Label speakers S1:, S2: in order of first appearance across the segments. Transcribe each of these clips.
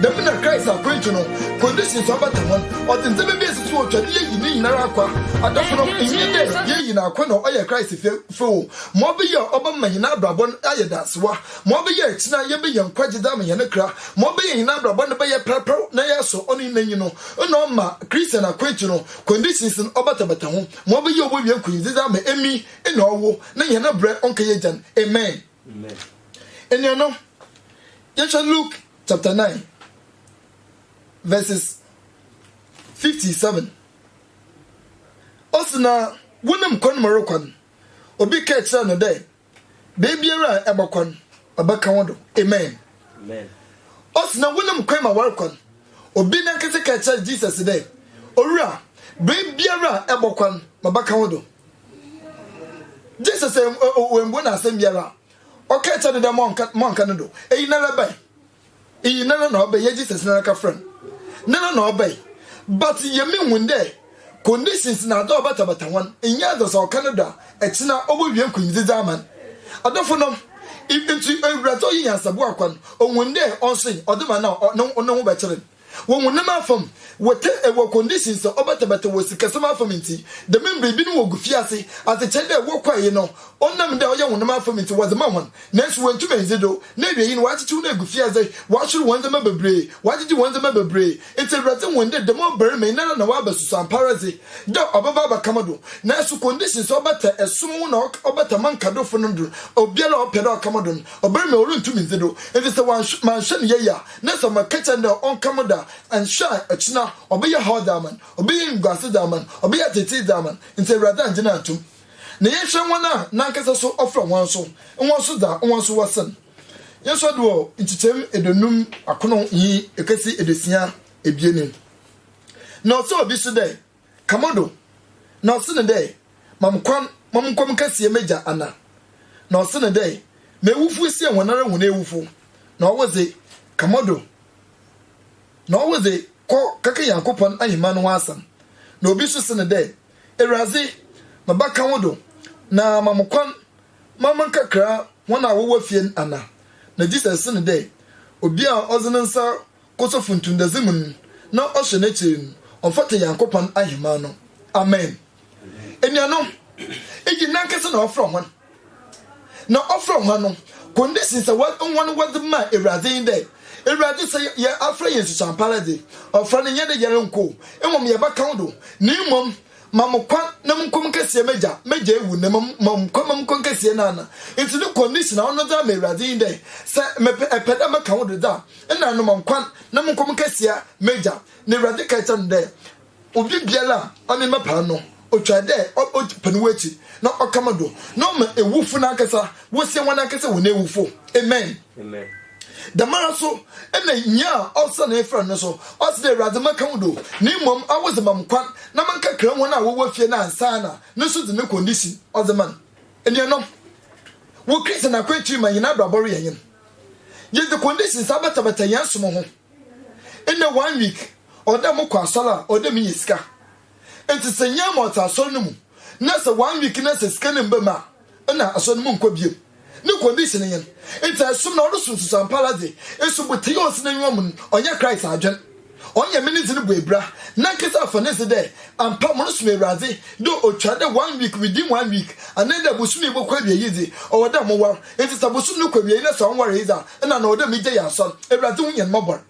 S1: Dɛm na Christ akwantu no conditions so abata ho. Ɔdze ndzɛmba bi esi so otwa dɛ yeyi ne nyinara akwa. Adafo no, nnyɛ dɛ yeyi no akwa na ɔyɛ Christ fɛfɛw o, ma ɔbɛyɛ a ɔbɛma hɛn abrabɔ no ayɛ daasewa, ma ɔbɛyɛ a akyina yebenya nkwagye dze ama hɛn kra, ma ɔbɛyɛ a hɛn abrabɔ no bɛyɛ prapra na yɛasɔ ɔno n'enyi no. Nna ɔma Christian akwantu no conditions no ɔbatabata ho, ma ɔbɛyɛ a obowie nkunyimdzi dze ama emi na ɔwo, na hɛn brɛ ɔnnkɛyɛ gyan. Amen. Anuanom, yɛhwɛ Luke chapter 9 verses 57. Ɔsi na wonim kwan mu rekɔ no, obi ka kyerɛ no dɛ, beebiara a ɛbɛkɔ no, ɔbɛka wo do. Amen. Ɔsi na wonim kwan ma wɔrekɔ no, obi nankasa ka kyerɛ Jesus dɛ, Owura, beebiara a ɛbɔkɔ no, mabɛka wo do. jesus wɔmbu no asɛm biara a ɔka kyɛ no dɛ mɔnka no do eyi nara bɛn eyi nara na ɔbɛn yɛ jesus nara ka frɛ no nara na ɔbɛn but yɛmi hun dɛ conditions na adɔ ɔbatabata hɔn nyɛ adɔ sɛ ɔka no do a ɛkyena ɔbɛwie nkunyimdzidze ama no adɔfo nom nti ewuradze ɔyɛ nyansabua kwa no ohun dɛ ɔnsoe ɔde ma no a ne ho bɛkyere no Wɔ honam afamu, wɔtɛ wɔ conditions a ɔbɛtɛbɛtɛ wɔ sikasɛm afamu ntsi. Dɛm mber yi, binom wogufi ase adze kyɛn dɛ wɔkɔr yi no, ɔnam dɛ ɔyɛ honam afamu ntsi wɔdze ma hɔn, naaso woenntum enndzi do, na ewiei no wɔakyekyew no egu fiadze, wɔahwer hɔn ndzɛmba beberee, wɔagyegye hɔn ndzɛmba beberee. Ntsi Ewuradze hun dɛ dɛm ɔbarimba yi noara na ɔaba susu ampaara dze, dɛ ɔbɛba abɛka mo do, naaso conditions a ɔbɛtɛ som ho na ɔbɛtɛ mo nkadofo no do, obiara a ɔpɛ dɛ ɔka mo do no, ɔbarimba yi orunntum nndzi do, ntsi sɛ wɔannhwɛ, mannhwɛ no yie a, Na sɛ wɔka kyerɛ no dɛ ɔnka mo da a, annhwɛ a, ɔkyena ɔbɛyɛ haw dze ama no, ɔbɛyɛ enyimguase dze ama no, ɔbɛyɛ atseetsee dze ama no, ntsi Ewuradze anngye no annto mu. Na yɛnhwɛ hɔn a nankasa so ɔfrɛ hɔn so, hɔn so dza hɔn so wɔ sen hɛn so do wɔ nkyekyɛm eduonum akron nye kesi eduosia ebien no, na ɔsɛ obi so dɛ, ka mo do, na ɔse no dɛ, Ma me kwan ma monkɔ me kɛseyɛ m'egya Anna. Na ɔse no dɛ, M'ewufo esie hɔnara hɔn ewufo, na ɔwodze, ka mo do, na ɔwodze, kɔ kɛka Nyankopɔn ahenman no ho asɛm. Na obi so se no dɛ, Ewuradze, meba ka wo do, na ma mo kwan ma menkɛkra hɔn a wɔwɔ fie n' Anna. Na Jesus se no dɛ, Obi a ɔdze ne nsa kɔ sɛ funtundadze mu no, na ɔhyɛ n'ekyir no, ɔfata Nyankopɔn ahenman no. Amen. Enuanom, iyi nankasa na ɔfrɛ hɔn. Na ɔfrɛ hɔn no, conditions a hɔn wɔdze maa Ewuradze nye dɛ, Ewuradze, sɛ yɛafrɛ hɛn nsusua ampaara dze, ɔfrɛ no nnyɛ dɛ yɛronnko o, mbom yɛbɛka wo do, na mbom ma mo kwan na monkɔ munkɛsie m'egya, m'egya ewu, na mbom ma mo kwan ma monkɔ nkɛsie n'ana. Ntsi no condition a ɔno dze ama Ewuradze nye dɛ, sɛ mepɛ, epɛ dɛ meka wo do dze a, Nna no monkɔ na monkɔ monkɛsea m'egya. Na Ewuradze kãe kyerɛɛ no dɛ, Obi biara a ɔnye me bɛpaa no, otwar dɛ ɔpɛ no wɔ ekyir na ɔka mo do, na ɔma ewufo nankasa wosie hɔnankasa hɔn ewufo. Amen. Dɛmara so na nyia a ɔsera na efrɛ no no so, ɔse dɛ, Ewuradze, mɛka wo do, na mbom awo dze ma mo kwan na mankɛkra hɔn a wɔwɔ fie no ansaana no so dze ne condition ɔdze ma no. Enuanom, wɔ Christian akwantu yi mu a hɛn abrabɔ reyɛ nyen. Yɛdze conditions abɛtabata hɛn som ho. Ndɛ one week, ɔwɔ dɛ mokɔ asɔr a, ɔwɔ dɛ minya sika. Ntsi sɛ nnyɛ ama ɔtse asɔr no mu na sɛ one week na sɛ sika no mmba mu a, nna asɔr no monnkɔ bio. No condition nye n'. Ntsi ɛsom na ɔrosom susuampaara dze, esubotsee a ɔtse n'enyiwa mu no, ɔnnyɛ Christ adwen. Ɔnnyɛ me ne dze no bɔ ebira. Nankasa afa no dze dɛ ampa morosom Ewuradze, dɛ otwar dɛ one week within one week, anaa dɛ bosoom yi bɔkɔ ewiei yi dze, ɔwɔ dɛ mowar. Ntsi sɛ bosoom no kɔ ewiei na sɛ ɔnnwaree dze a, nna ana ɔwɔ dɛ megyae asɔr. Ewuradze hu hɛn mbɔbɔr.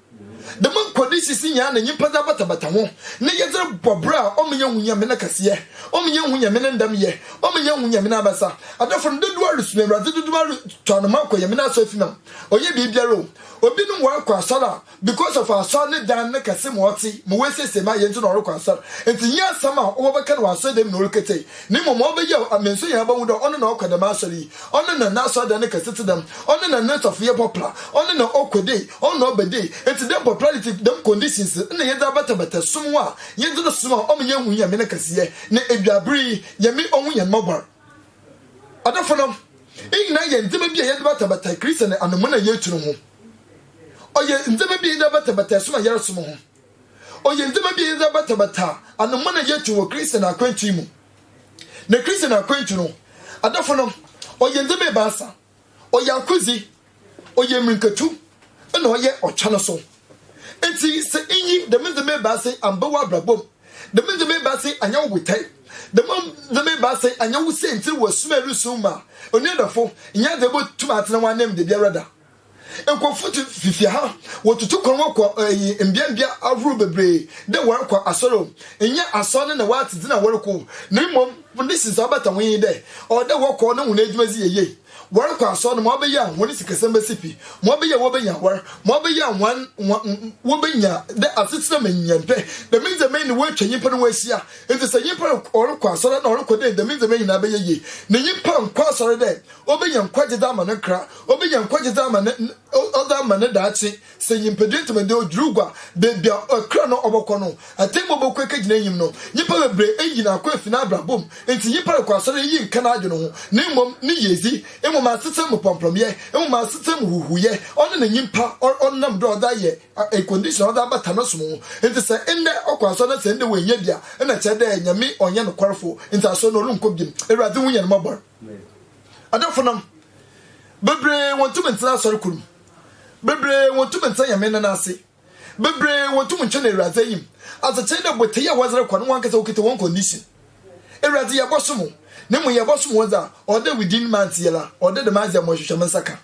S1: Dɛm nkode sisi nyia na nyimpa dze abatabata ho ne yɛdze robɔ bra a, ɔma yennhu Nyame n'akɛseyɛ, ɔma yennhu Nyame ne ndamyɛ, ɔma yennhu Nyame n'abasa. Adɔfo no, dodow a rosom Ewuradze dodow a rotoa no ma ɔkɔ Nyame n'asɔrfi no, ɔnnyɛ biribiara o. Obinom wɔakɔ asɔr a, Because of asɔr ne dan ne kɛse ma ɔtse, ma woesiesie ma ayɛ ntsi na ɔrokɔ asɔr. Ntsi nnyɛ asɛm a wɔbɛka no wɔ asɔr dan mu na oreketsei, na mbom ma ɔbɛyew ama nsu nyinara bɔhu dɛ ɔno na ɔkɔ dɛm asɔr yi, ɔno na n'asɔr dan no kɛse tse dɛm, ɔno na no nsɔfoyɛ pɔpla, ɔno na ɔkɔ dei, ɔno na ɔba dei. Ntsi dɛm popularity, dɛm conditions no nna yɛdze abatabata som a yɛdze no som a ɔma yennhu Nyame ne kɛseyɛ, na ewiaber yi, Nyame ohu hɛn mbɔbɔr. Adɔfonom, iyi nyina yɛ ndzɛmba bi a yɛdze batabata Christian anamuna a yeetu no ho. Ɔyɛ ndzɛmba bi a yɛdze batabata ɛsom a yɛrosom ho. Ɔyɛ ndzɛmba bi a yɛdze batabata anoman a yɛto wɔ Christian akwantu mu. Na Christian akwantu no, adɔfo no, ɔyɛ ndzɛmba ebiasa. Ɔyɛ akodzi, ɔyɛ mbirikatu, na ɔyɛ ɔtwa no so. Ntsi sɛ innyi dɛm ndzɛmba ebiasa yi ammba w'abrabɔ mu, dɛm ndzɛmba ebiasa yi annyɛ wo botae, dɛm ndzɛmba ebiasa yi annyɛ wo siantsir wɔ som a erosom mu a, onua dɔfo, nnyɛ adze a ibotum atsena w'ananmu dabiara da. Nkorɔfo dze fifia ha, wotutu kwan wɔkɔ eyi mbeambea ahorow beberee dɛ wɔrokɔ asɔr o, nnyɛ asɔr no na wɔatse dzin a wɔrokɔ o, na mbom hɔn ne sisi a ɔbata hɔn nye dɛ ɔwɔ dɛ wɔkɔ na hɔn edwuma dzi yɛ yie. Wɔrokɔ asɔr no ma ɔbɛyɛ a hɔn sikasɛm besi pi, ma ɔbɛyɛ a wobenya awar, ma ɔbɛyɛ a hɔn hɔn wobenya dɛ asetsena mu nyɛmpɛ. Dɛm ndzɛmba yi na woetwa nyimpa no ho ehyia. Ntsi sɛ nyimpa ɔrokɔ asɔr na ɔrokɔ dɛ dɛm ndzɛmba yi nyina bɛyɛ yie, na nyimpa nnkɔ asɔr dɛ Obi yɛ nkwagye dze ama ne nkra, obi yɛ nkwagye dze ama ne ɔdze ama ne daakye. Sɛ nyimpadua ntsi ma dɛ odwiriw gua, beebi a ɔkra no ɔbɔkɔ no, atsɛmbu bɔkɔ ekegyina enyim no. Nyimpa beberee eyi no akɔ efi n'abrabɔ mu. Ntsi nyimpa rokɔ asɔr yi nnkã n'adwen ho, na mbom ne yiedzi, mbom asetsɛm mu prɔmprɔmyɛ, mbom asetsɛm mu huhuuyɛ. Ɔno na nyimpa ɔnam do a ɔdze ayɛ a condition a ɔdze abata no som ho. Ntsi sɛ ndɛ ɔkɔ asɔr na sɛ ndɛ oennya bi a, nna kyerɛ dɛ Nyame ɔnnyɛ nokwar fo, ntsi asɔr no oronnkɔ bio. Ewuradze hu hɛn mbɔbɔr. Adamfonom bebree wɔntumi ntena asɔre koro mu. Bebree wɔntumi ntena Nyame nne no ase. Bebree wɔntumi ntwe no Awurade ayim. Adzekyee dɛ botei a wɔdze rekɔ no wankasa wokitsa hɔn condition. Awurade yɛbɔsom wo, na mbom yɛbɔsom wo dze a, ɔwɔ dɛ wo din ma antse yɛla, ɔwɔ dɛ dɛm adze a mohwehwɛ me nsa ka.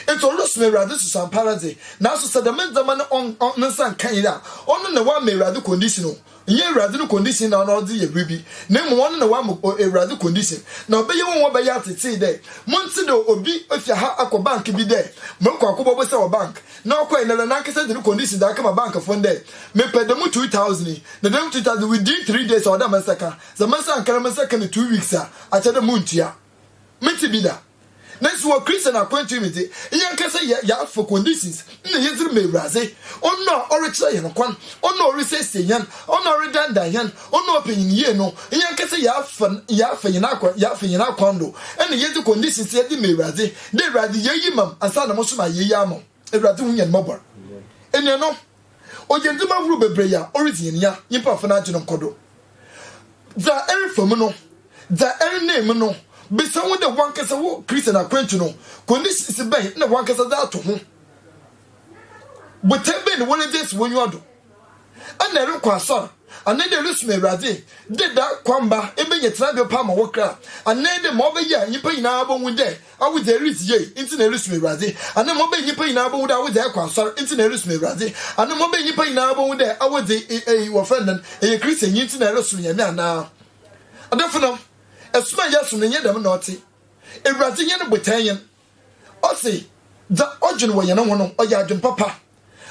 S1: Enti ɔresi no Awurade susu ampara dze, naaso sɛ dɛm ndzɛmba no ɔnn ɔnn ne nsa nnkã yie a, ɔno na ɔama Ewuradze condition o, nnyɛ Ewuradze no condition na ɔno ɔdze yɛ biribi, na mbom ɔno na ɔama o Ewuradze condition, na ɔbɛyɛ hɔn hɔn bɛyɛ atsetsee dɛ, monntse dɛ obi efi ha akɔ bank bi dɛ morokɔ akɔbɔbɔ sika wɔ bank, na ɔkɔe na dɛ nankasa dze no condition dze akɛma bankfo no dɛ, mepɛ dɛm two thousand yi, na dɛm two thousand yi within three days a ɔwɔ dɛ me nsa kã, sɛ me nsa annkã na me nsa kã no two weeks a, akyerɛ dɛ munntua. Metse bi da. Naaso wɔ Christian akwantu mu dze, hɛn ankasa yɛafa conditions na yɛdze rema Ewuradze, Ɔno a ɔrekyerɛ hɛn kwan, Ɔno a orisiesie hɛn, Ɔno a ɔredandan hɛn, Ɔno a ɔpɛ hɛn yie no, hɛn ankasa yɛafa yɛafa hɛn akwan yɛafa hɛn akwan do na yɛdze conditions yɛdze ma Ewuradze, dɛ Ewuradze yɛ iyi ma m' ansaana moso mayɛ iyi ama wo. Ewuradze hu hɛn mbɔbɔr. Enuanom, ɔyɛ ndzɛmba horow beberee a oridzi hɛn nya nyimpa afa n'adwen nkɔ do. Dza erefa mu no, dza erenam mu no bisa wo dɛ wankasa wo Christian akwantu no, conditions bɛn na wankasa dze ato ho? Botae bɛn na woridzi esi w'enyiwa do? Ana eruku asɔr? Ana dɛ erusom Ewuradze? Dɛ da kor mba ebenya tsenabea pa ma wo kra? Ana dɛ ma ɔbɛyɛ a nyimpa nyina bohu dɛ awodze a eridzi yie ntsi na erusom Ewuradze? Ana ma ɔbɛyɛ nyimpa nyina bohu dɛ awodze a ekɔ asɔr ntsi na erusom Ewuradze? Ana ma ɔbɛyɛ nyimpa nyina bohu dɛ awodze e e wɔfrɛ no dɛn, eyɛ Christiannyi ntsi na erosom Nyame anaa? Adɔfonom, som a yɛsom no nnyɛ dɛm na ɔtse. Ewuradze nye no botae nye n'. Ɔse dza ɔdwen wɔ hɛn ho no, ɔyɛ adwen papa.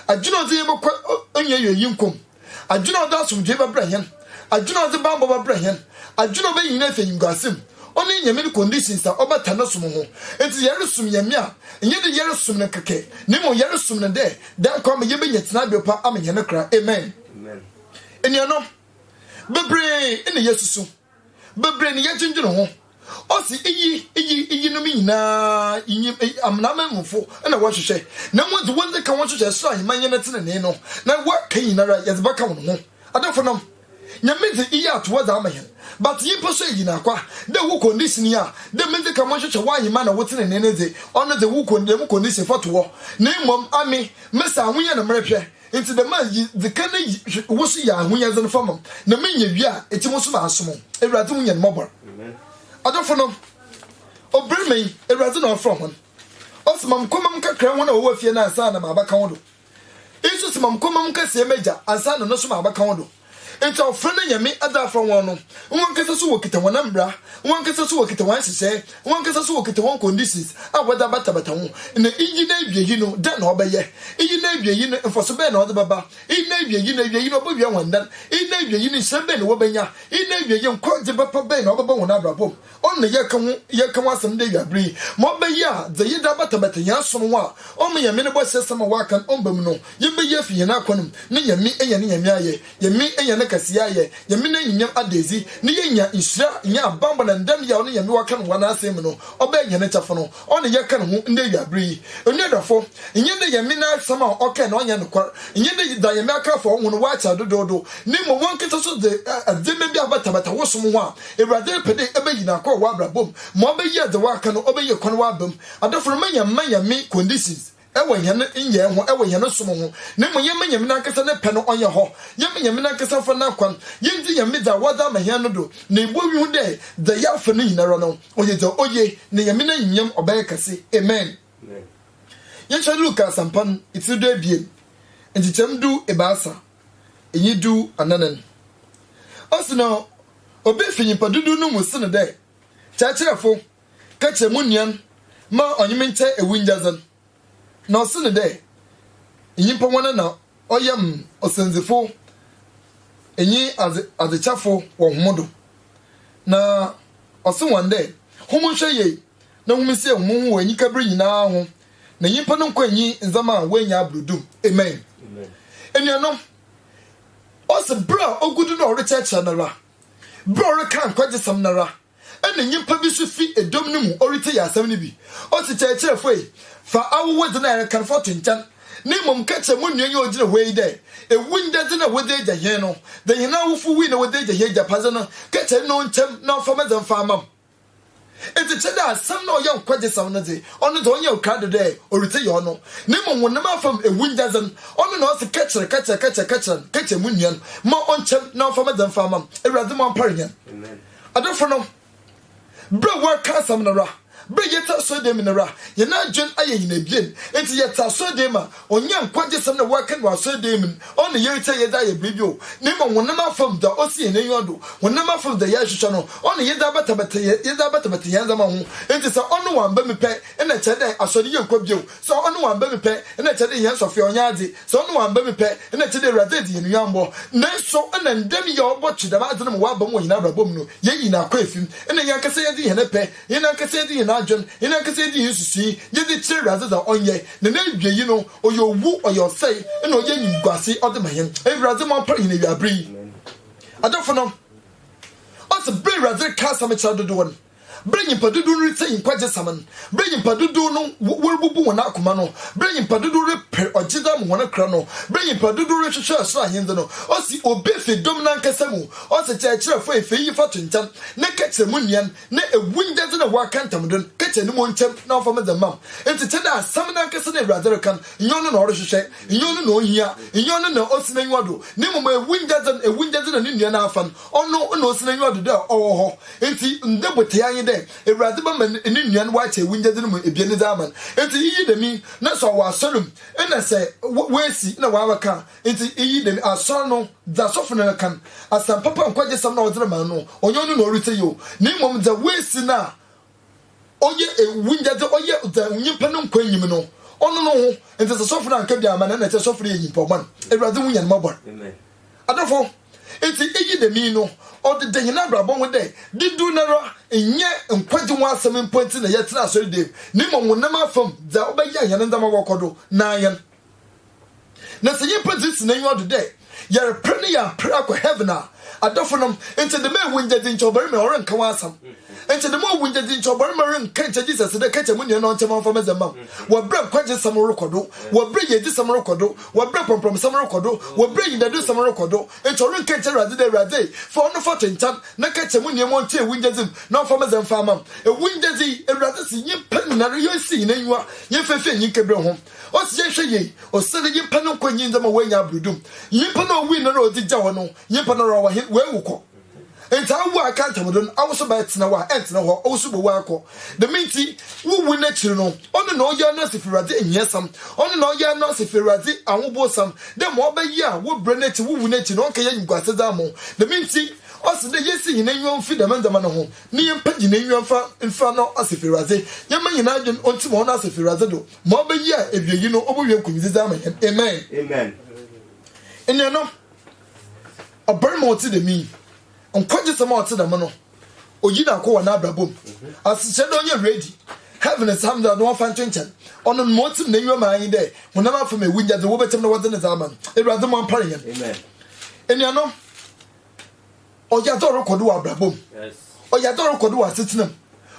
S1: Adwen a ɔdze hɛn bɔkɔ onnyiewiei nyɛnko mu. Adwen a ɔdze asomdwee bɛbrɛ hɛn. Adwen a ɔdze bambɔ bɛbrɛ hɛn. Adwen a ɔbɛyɛ hɛn efi enyimguase mu. Ɔno nye Nyame no conditions a ɔbata no som ho. Ntsi dɛ yɛrosom Nyame a, nnyɛ dɛ yɛrosom no kɛkɛ, na mbom yɛrosom no dɛ dɛn kwan ma yebenya tsenabew pa ama hɛn kra. Amen. Enuanom, beberee na yesusu, beberee na yɛdwendwen ho Ɔsi iyi iyi iyinom nyinaa nyim amanamanmufo na wɔhwehwɛ, na hɔn dze wɔn dze ka hɔn so hyɛ sor aheman nye ne tsenenee no, na wɔaka nyinara yɛdze bɛka hɔn ho. Adɔfonom, Nyame dze iyi ato hɔ dze ama hɛn, but nyimpa so eyi n'akwa dɛ wo condition yi a, dɛ medze ka mo nhwehwɛ w'aheman na wo tsenenee no dze, ɔno dze wo dɛm condition fɔto hɔ, na mbom ame, mese ahoyɛ na merehwɛ, Ntsi dɛm a, yi dze kan yi wo so yɛ ahonyadze no fa ma m', na minya wie a, etse mo so maasom wo. Ewuradze hu hɛn mbɔbɔr. Adɔfo no, obarimba yi, Ewuradze na ɔfrɛ hɔn. Ɔse, Ma mkɔ ma mnkɛkra hɔn a wɔwɔ fie no ansaana maabɛka wo do. Iyi so se, Ma mkɔ ma mnkɛsɛɛ m'egya ansaana no so maabɛka wo do. Enti wɔfrɛ no anyame dze afrɛ hɔn no, hɔnankasa so wokitsa hɔn mbra, hɔnankasa so wokitsa hɔn nhyehyɛɛ, hɔnankasa so wokitsa hɔn conditions a wɔdze abatabata ho. Na iyi n'ewiei no, dɛn na ɔbɛyɛ? Iyi n'ewiei no, mfaso bɛn na ɔdze bɛba? Iyi n'ewiei no, ewiei no, obowia hɔn dɛn? Iyi n'ewiei no, nhyira bɛn na wobenya? Iyi n'ewiei, nkwagye bapa bɛn na ɔbɛba hɔn abrabɔ mu? Ɔn na yɛkã ho yɛkã ho asɛm ndɛ ewia ber yi. Ma ɔbɛyɛ a, dza yɛdze abatabata hɛn aso no ho a, ɔma Nyame no bɔhyɛsɛm a ɔaka no ɔmmba mu no, yɛbɛyɛ efi hɛn akɔn mu, na Nyame enya ne Nyame ayɛ, Nyame enya ne kɛseyɛ ayɛ, Nyame n'enyimnyam ada edzi, na yenya nhyira, nye abambɔ na ndam yɛ a ɔno Nyame ɔaka no wɔ n'Asɛm mu no, ɔbɛyɛ hɛn kyɛfa no. Ɔne yɛka no ho ndɛ ewiaber yi. Onua dɔfo, nnyɛ ndɛ yɛ men asɛm a ɔkae na ɔnnyɛ nokwar, nnyɛ ndɛ da yɛ men akrafo a ɔwo no wɔakyɛ dodoodo, na mbom wankasa so dze adzeɛmba bi abatabata wo som ho a, Ewuradze repɛ dɛ ebeyi no akɔ wɔ w'abrabɔ mu ma ɔbɛyɛ dza wɔaka no ɔbɛyɛ kwan w'abamu. Adɔfo no, ma yɛmma yɛ men conditions. wɔ hɛn nyɛe ho, wɔ hɛn som ho, na mbom yɛmma Nyame nankasa ne pɛ no ɔnyɛ hɔ. Yɛmma Nyame nankasa mfa n'akwan, yendzi Nyame dza Ɔadze ama hɛn no do, na yebowie ho dɛ, dza yɛafa no nyinara no, ɔyɛ dza oye, na Nyame n'enyimnyam ɔbɛyɛ kɛse. Amen. Yɛnhwɛ Luka Asɛmpa no, etsir du ebien, nkyekyɛm du ebiasa, nye du anaanan. Ɔse na obi fi nyimpa dodow no mu se no dɛ, Kyerɛkyerɛfo, kɛkyɛ mo nuan ma ɔnye me nkyɛ ewungyadze no, na ɔse no dɛ, Nyimpa woana na ɔyɛ me ɔsɛndzifo nye adze adzekyafo wɔ hom do? Na ɔse hɔn dɛ, Hom nhwɛ yie na hom nsie homho wɔ enyika ber nyina ho, na nyimpa no nkwa nnyi ndzɛmba a woennya aber do do. Amen. Enuanom, ɔse ber a ogu do na ɔrekyerɛkyerɛ noara, ber a ɔrekã nkwagye-sɛm noara, Nna nyimpa bi so fi dɔm no mu oritsei asɛm no bi. Ose, Kyerɛkyerɛfo ei, fa awowodze no a erekan fa to nkyɛn, na mbom ka kyerɛ mo nua yi a ogyina hɔ yi dɛ, Ewungyadze no a wɔdze egya hɛn no, dɛ hɛn awofo wui na wɔdze egya hɛn egyapadze no, ka kyerɛ no na ɔnkyɛ m' na ɔmfa me dze mfa mma m'. Ntsi kyerɛ dɛ asɛm no a ɔyɛ nkwagyeasɛm no dze, ɔno dze ɔnnyɛ wo krado dɛ oretse yɛ ɔno, na mbom wo nam afamu ewungyadze no, ɔno na ɔse, Ka kyerɛ, ka kyerɛ, ka kyerɛ, ka kyerɛ no, ka kyerɛ mo nua no, mma ɔnkyɛ m' na ɔmfa me dze mfa mma m'. Ewuradze mu ampa ara nye n'. Adɔfo no, ber a wɔreka asɛm no wura, ber a yɛtse asɔrdan mu no wura, hɛn adwen ayɛ hɛn ebien. Ntsi yɛtse asɔrdan mu a, ɔnnyɛ nkwagyeasɛm na wɔreka no wɔ asɔrdan mu no na yeritsie a yɛdze ayɛ biribi o, na mbom honamar famu dza osi hɛn enyiwa do, honamar famu dza yɛrohwehwɛ no na yɛdze abatabata hɛn yɛdze abatabata hɛn ndzɛmba ho. Ntsi sɛ ɔno ɔammba mu pɛn na kyerɛ dɛ asɔr no yɛnnkɔ bio. Sɛ ɔno ɔammba mu pɛ na nkyɛ dɛ hɛn sɔfo yi ɔnnyɛ adze, sɛ ɔno ɔammba mu pɛ na nkyɛ dɛ Ewuradze edzi hɛn nyambɔ. Naaso nna ndɛ no yɛ a ɔbɔtwe dɛm adze no ma ɔaaba mu wɔ hɛn abrabɔ mu no, yeyi no akɔ efi mu. Nna hɛnankasa yɛdze hɛn pɛ, hɛnankasa yɛdze hɛn adwen, hɛnankasa yɛdze hɛn nsusui yɛdze kyerɛ Ewuradze dza ɔnyɛ, na n'ewiei no, ɔyɛ owu, ɔyɛ ɔsɛe, nna ɔyɛ enyimguase ɔdze ma hɛn. Ewuradze moampar hɛn ewiaber yi. Adɔfonom, ɔsɛ ber a Ewuradze reka asɛm kyerɛ dodow no. Bere a nyimpa dodow no ritsie nkwagyesɛm no, bere a nyimpa dodow no worububu hɔn akoma no, bere a nyimpa dodow reper ɔgyedɛ mu hɔn kra no, bere a nyimpa dodow rohwehwɛ ɔsor Ahendzi no, osi obi fi dɔm nankasa mu, ɔse, Kyerɛkyerɛfo, efi iyi fa to nkyɛn, na ka kyerɛ mo nuan, na ewungyadze no a ɔaka ntam do no, ka kyerɛ no ma onkyia mu na ɔmfa medze mma m'. Ntsi kyerɛ dɛ asɛm nankasa na Ewuradze reka no, nnyɛ ɔno na ɔrohwehwɛ, nnyɛ ɔno na ohia, nnyɛ ɔno na osi n'enyiwa do, na mbom ewungyadze no, ewungyadze na no nua n'afã no, Ɔno na osi n'enyiwa do dɛ ɔwɔ hɔ. Ntsi, ndɛ botee anyi dɛ Ewuradze bɛma no nua no ɔakyɛ ewungyadze no mu ebien no dze ama no. Ntsi iyi dɛm yi, nna sɛ ɔwɔ asɔr mu, nna sɛ oesi na ɔabɛka a, ntsi iyi dɛm yi, asɔr no, dza asɔfo no kan, asɛmpapa nkwagye sɛm no a ɔdze rema no, ɔnnyɛ ɔno na oritsie yi o, na mbom dza oesi no a, ɔyɛ ewu nyɛ dze ɔyɛ dza nyimpa no nkwa nnyim no, ɔno no ho ntsi sɛ sɔfo no annka bi amma no a nna kyerɛ sɔfo no yɛ nyimpa bɔn. Ewuradze hu hɛn mbɔbɔr. Adɔfo, ntsi iyi dɛm yi no ɔdeda hɛn abrabɔ ho dɛ dodow noara nnyɛ nkwagye ho asɛm mpo ntsi na yɛtsena asɔr dee mu na mbom honam afamu dza ɔbɛyɛ a hɛn ndzɛmba bɔkɔ do na hɛn na sɛ nyimpa dze si n'enyiwa do dɛ yɛreper no yɛaper akɔ heaven a, adɔfonom, nkyɛ dɛm ewu ngyedzi nkyɛ ɔbarimba yi ɔrennka wo asɛm. Nkyɛ dɛm owu ngyedzi nkyɛ ɔbarimba rennka nkyɛ Jesus dɛ, Kɛkyɛ mo nua na ɔnkyɛ mo ɔmfa me dze mma me. Wɔ ber a nkwagyeesɛm rokɔ do, wɔ ber a yiedzisɛm rokɔ do, wɔ ber a prɔmprɔmsɛm rokɔ do, wɔ ber a enyidadusɛm rokɔ do, nkyɛ ɔrennka nkyɛ Ewuradze dɛ, Ewuradze, fa ɔno fa to nkyɛn, na kɛkyɛ mo nua ma ɔnkyɛ ewu ngyedzi mu na ɔmfa me dze mfa mma me. Ewu ngyedzi, Ewuradze se nyimpa nyinara yonsi hɛn enyiwa yɛmfa mfi enyi nkebrɛ hom. Ɔse yɛnhwɛ yie, ɔse ne nyimpa no nkɔ nyi ndzɛmba oenya abrudum. Nyimpa no a owui no na odzi gya hɔ no, nyimpa no ɔwɔ hen? Oewu kɔ. Ntsi awo a aka ntamdo no, awo so bɛtsena hɔ a, enntsena hɔ, ɔwo so bowu akɔ. Dɛm ntsi, wo wu n'ekyir no, ɔno na ɔyɛ ano ase fi Ewuradze nyiasɛm, ɔno na ɔyɛ ano ase fi Ewuradze ahobowsɛm, dɛ ma ɔbɛyɛ a wo brɛ n'ekyir, wo wu n'ekyir no, ɔnnkɛyɛ enyiguase dze ama wo. Dɛm ntsi, ɔse dɛ yensi hɛn enyiwa mfi dɛm ndzɛmba no ho, na yɛmpa hɛn enyiwa mfa mfira no ase fi Ewuradze, yɛmma hɛn adwen ontsim hɔ no ase fi Ewuradze do. Ma ɔbɛyi a awieyi no ɔbɛwie nkunyidze dze ama hɛn. Amen. Amen. Enuanom, ɔbarima a ɔtse dɛm yi, nkwagyeesɛm a ɔtse dɛm no, oyi no akɔ wɔ n'abrabɔ mu. Asekyerɛ dɛ ɔnyɛ ready, heaven is something a wɔmfa nto nkyɛn. Ɔno no ma otsim n'enyiwa maa nye dɛ honam afam ewunyadze wobɛkyɛ mu na wɔdze no dze ama no. Ewuradze mma ɔmpare hɛn. Enuanom, Ɔyɛ adze a ɔrokɔ do wɔ abrabɔ mu. Ɔyɛ adze a ɔrokɔ do wɔ asetsena mu.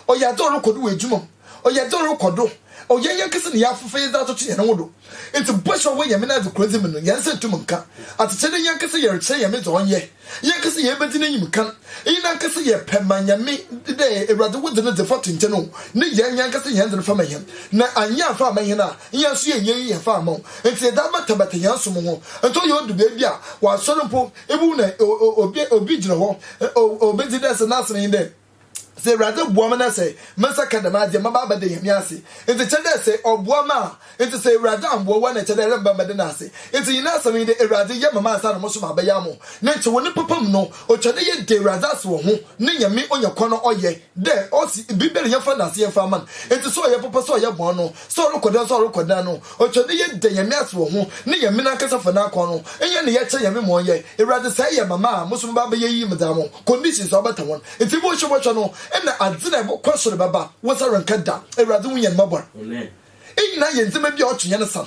S1: Ɔyɛ adze a ɔrokɔ do wɔ edwuma mu. Ɔyɛ adze a ɔrokɔ do wɔ hɛn yankasa na yɛafefa yɛdze atoto hɛn ho do. Ntsi bɔhyɛ a ɔwɔ Nyame n'adze koradzi mu no, hɛn nsa nntum nnka. Adzekyɛ dɛ yankasa yɛrekyerɛ Nyame dza ɔnyɛ, yankasa yeebedzi n'enyim kan, iyi nankasa yɛ pɛ ma Nyame dɛ Ewuradze wo dze no dze fa to nkyɛn o, na hɛn yankasa hɛn dze no fa ma hɛn. Na annyɛ afa amma hɛn a, hɛn so yɛnnyɛ iyi yɛfa amma wo. Ntsi yɛdze abatabata hɛn som ho. Ntsi ɔyɛ odu beebi a, wɔ asɔr mpo, Mbom na obi obi gyina hɔ, obedzi dɛ sɛ n'ase no nye dɛ, sɛ Ewuradze boa me na sɛ me nsa ka dɛm adze a, mɛba abɛda Nyame ase. Ntsi kyerɛ dɛ sɛ Ɔboa me a, ntsi sɛ Ewuradze ammboa wo a nna kyerɛ dɛ eremmba mmbɛda N'ase. Ntsi nyina asɛm nye dɛ Ewuradze yɛ ma me ansaana mo so maabɛyɛ ama wo. Ne nkyewee ne papa mu no, otwa dɛ yɛda Ewuradze ase wɔ ho, ne Nyame onya kwan a ɔyɛ. Dɛ ɔse biribiara yɛmfa ndaase yɛmfa ama no. Ntsi sɛ ɔyɛ papa sɛ ɔyɛ bɔn no, sɛ ɔrokɔ dan sɛ ɔrokɔ dan no, ɔtwa dɛ yɛda Nyame ase wɔ ho na Nyame nankasa fa n'akwan no yɛ na yɛkyerɛ Nyame ma ɔnyɛ. Ewuradze sɛ eyɛ ma me a, mo so mebaa bɛyɛ iyi, medze ama wo. Conditions a ɔbɛtã hɔn ntsi bɔn hyɛ bɔhwɛ no na adze na ebɔkɔ sor bɛba, wo nsa rennka da. Ewuradze hu hɛn mbɔbɔr nyina yɛ ndzɛmba bi a ɔtwe hɛn san.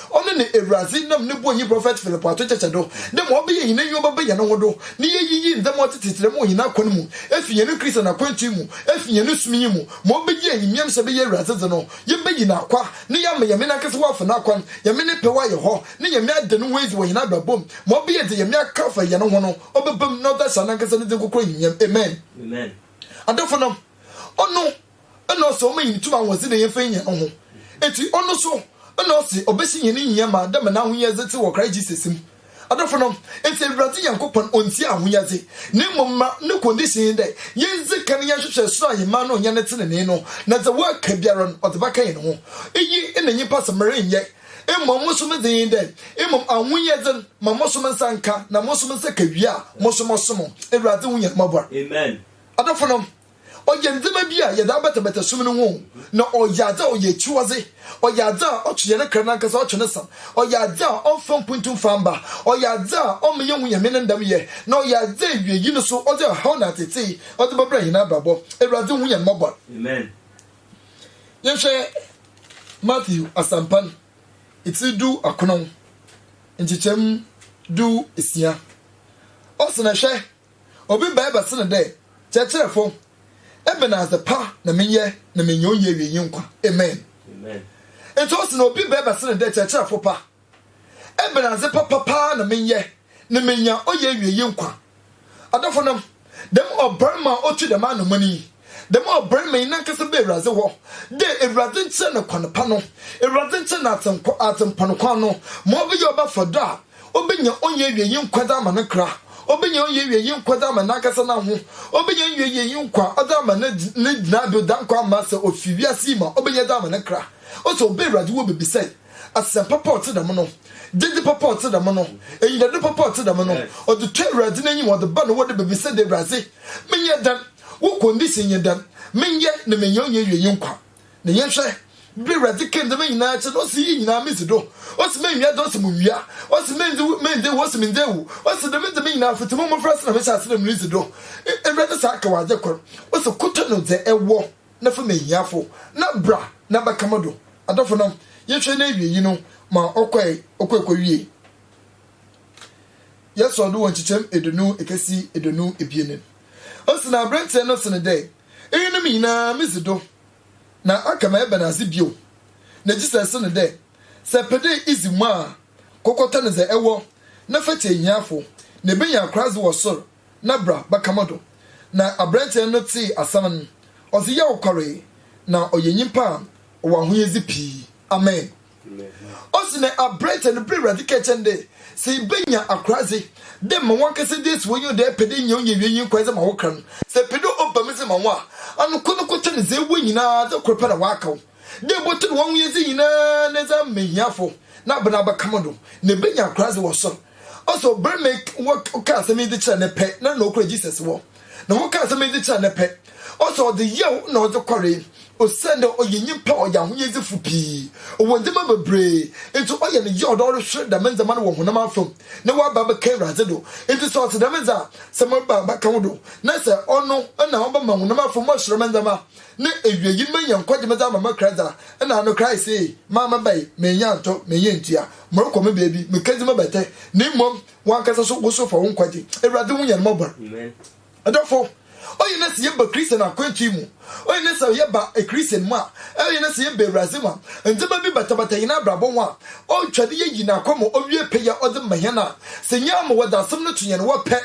S1: Ɔno na Ewuradze nam no bɔnyi prɔfɛt Philip ato kyekyɛ do dɛ ma ɔbɛyɛ hɛn enyiwa bɛbɛyɛ no ho do, na yeeyiyi ndzɛmba a ɔtse tsirtsir mu wɔ hɛn akwan mu efi hɛn Christian akwantu mu, efi hɛn som yi mu, ma ɔbɛyɛ enyimnyamhyɛ bɛyɛ Ewuradze dze no, yɛbɛyi N'akwa, na yɛama Nyame Nankasa ho afa N'akwan, Nyame Ne pɛ ho ayɛ hɔ, na Nyame ada No ho edzi wɔ hɛn abrabɔ mu, ma ɔbɛyɛ dza Nyame aka afa hɛn ho no, ɔbɛba mu na ɔdze ahyɛ Nankasa Ne dzin krɔkrɔ enyimnyam. Amen. Adɔfonom, Ɔno na ɔse ɔma hɛn tum ahoɔdzen na yɛmfa nyi hɛn ho. Ekyir ɔno so na ɔse ɔbɛhyɛ hɛn nyia ma dɛ ma n'ahoyɛdze tse wɔ Christ Jesus mu. Adɔfo no, ntsi Ewuradze Nyankopɔn onntsia ahoyɛdze, na mbom ma no condition nye dɛ yendzi kan yɛnhwehwɛ sor ahenman no nye ne tsenenee no, na dza ɔaka biara no ɔdze bɛka hɛn ho. Iyi na nyimpa se merennyɛ, mbom so medze nye dɛ, mbom ahoyɛdze no ma moso me nsa nka, na moso me nsa ka wie a, moso mɔsom Ewuradze ho Nyankopɔn. Adɔfo no. Ɔyɛ ndzɛmba bi a yɛdze abɛtɛbɛtɛ sum no ho o, na ɔyɛ adze a ɔyɛ ekyiwadze, ɔyɛ adze a ɔtwe hɛn kra nankasa, ɔtwe ne san, ɔyɛ adze a ɔmmfa mpontu mmfa mma, ɔyɛ adze a ɔmma yennhu Nyame ne ndamyɛ, na ɔyɛ adze a ewiei no so ɔdze ɔhaw na atsetsee ɔdze bɛbrɛ hɛn abrabɔ. Ewuradze hu hɛn mbɔbɔr. Yɛnhwɛ Matthew Asɛmpa no, etsir du akron, nkyekyɛmu du esia. Ɔse, Na hwɛ, Obi bae bɛse no dɛ, Kyerɛkyerɛfo, ebɛnadze pa na menyɛ na meenya onnyiewienyi nkwa? Amen. Ntsi ose na obi bae bɛse no dɛ, Kyerɛkyerɛfo pa, ebɛnadze papa paa na menyɛ na meenya onnyiewienyi nkwa? Adɔfonom, dɛm ɔbarima a otu dɛm anamɔn yi, Dɛm a ɔbrɛ me nankasa ba Ewuradze hɔ, dɛ Ewuradze nkyerɛ no kwan pa no, Ewuradze nkyerɛ no adzenkwa, adzempa no kwan no, ma ɔbɛyɛ ɔbɛfa dɔ a obenya onnyiewiei nkwa dze ama ne nkra, obenya onnyiewiei nkwa dze ama nankasa n'aho, obenya onnyiewiei nkwa ɔdze ama ne gyinabew dɛ nkwa mma sɛ ofi wiase yi mu a obenya dze ama ne nkra. Ose ɔba Ewuradze wɔ bebisae. asɛmpa pa a ɔtse dɛm no, gyedzi papa a ɔtse dɛm no, enyidado papa a ɔtse dɛm no, ɔdze tɔ Ewuradze n'enyim, ɔdze ba na wɔdze bebisa dɛ, Ewuradze, menyɛ dɛn? Wo condition nye dɛn? Menyɛ na menya onnya ewienyi nkwa. Na yɛnhwɛ, ber a Ewuradze kaa ndzɛmba nyina kyerɛɛ no, ɔse, Iyi nyina midzi do. Ɔse, Mennwia adze, ɔse, Munnwia. Ɔse, Menndzi wu, menndzi ewu, ɔse, Menndzi ewu. Ɔse, Dɛm ndzɛmba nyina, fitsi mo mbofrase na mehyɛɛ ase dɛ miridzi do. Ewuradze san kaa wo adze kor, ɔse, Kotonu dza ewɔ. na fa ma ehiafo, na bra na bɛka mo do. Adɔfo no, yɛhwɛ na ewiei no, ma ɔkɔe, ɔkɔe kowiei. Yɛsɔɔ do wɔ nkyekyɛm eduonu ekesi eduonu ebien no. Ose na aberantsɛ no se no dɛ, Iyinom nyina midzi do, na aka ma ebɛnadze bio? Na Jesus se no dɛ, Sɛ epɛ dɛ idzi mu a, kɔ kɔtɔn dza ewɔ na fa kyɛ ehiafo, na ibenya akoradze wɔ sor, na bra bɛka mo do. Na aberantsɛ no tsee asɛm no, ɔdze yaw kɔree, na ɔyɛ nyimpa a ɔwɔ ahoyɛdze pii. Amen. Ɔse na aberantsɛ no brɛ Ewuradze kɛɛ kyerɛ no dɛ, sɛ ibenya akoradze dɛ ma wankasa dze esi w'enyiwa dɛ epɛ dɛ inya onnyiewiei nye nkwagye ma wo kra no, sɛ epɛ dɛ ɔba mu dze ma wo a, ano kor no kor kyɛ no dza ewɔ nyina dɛ kor pɛ na ɔaka wo. Dɛ ibotum wo ahoyɛdze nyina na edze ama ehiafo na aber no abɛka mo do, na ibenya akoradze wɔ sor. Also, ber ma wɔkaa asɛm yi dze kyerɛɛ no pɛ na nna okura Jesus wɔ, na wɔkaa asɛm yi dze kyerɛɛ no pɛ, also ɔdze yaw na ɔdze kɔree, osiandɛ ɔyɛ nyimpa a ɔyɛ ahoyɛdzefo pii, ɔwɔ ndzɛmba beberee, ntsi ɔyɛ no yaw dɛ ɔrohwer dɛm ndzɛmba no wɔ honam afamu, na ɔaba abɛka Ewuradze do. Ntsi sɛ ɔtse dɛm dze a, sɛ meba abɛka wo do, na sɛ ɔno na ɔbɛma honam afamu asoɛrma ndzɛmba Ne ewiei mɛyɛ nkwagye medze ama mo Christ a, nna ano Christ see, Maa me bae, mennya ntɔ, mennya ntua, morokɔ me beebi, mekedzi mo bɛtɛ, na mbom wankasa so wo so fa wo nkwagye. Ewuradze hu hɛn mbɔbɔr. Adɔfo, ɔyɛ dɛ sɛ yɛba Christian akwantu mu, ɔyɛ dɛ sɛ yɛba Christian mu a, ɔyɛ dɛ sɛ yɛba Ewuradze mu a, ndzɛmba bi batabata hɛn abrabɔ ho a, otwa dɛ yeyi N'akwan mu owie pɛ yi a ɔdze ma hɛn a, sɛ nyaa ma wɔdze asɛm no to hɛn hɔ pɛ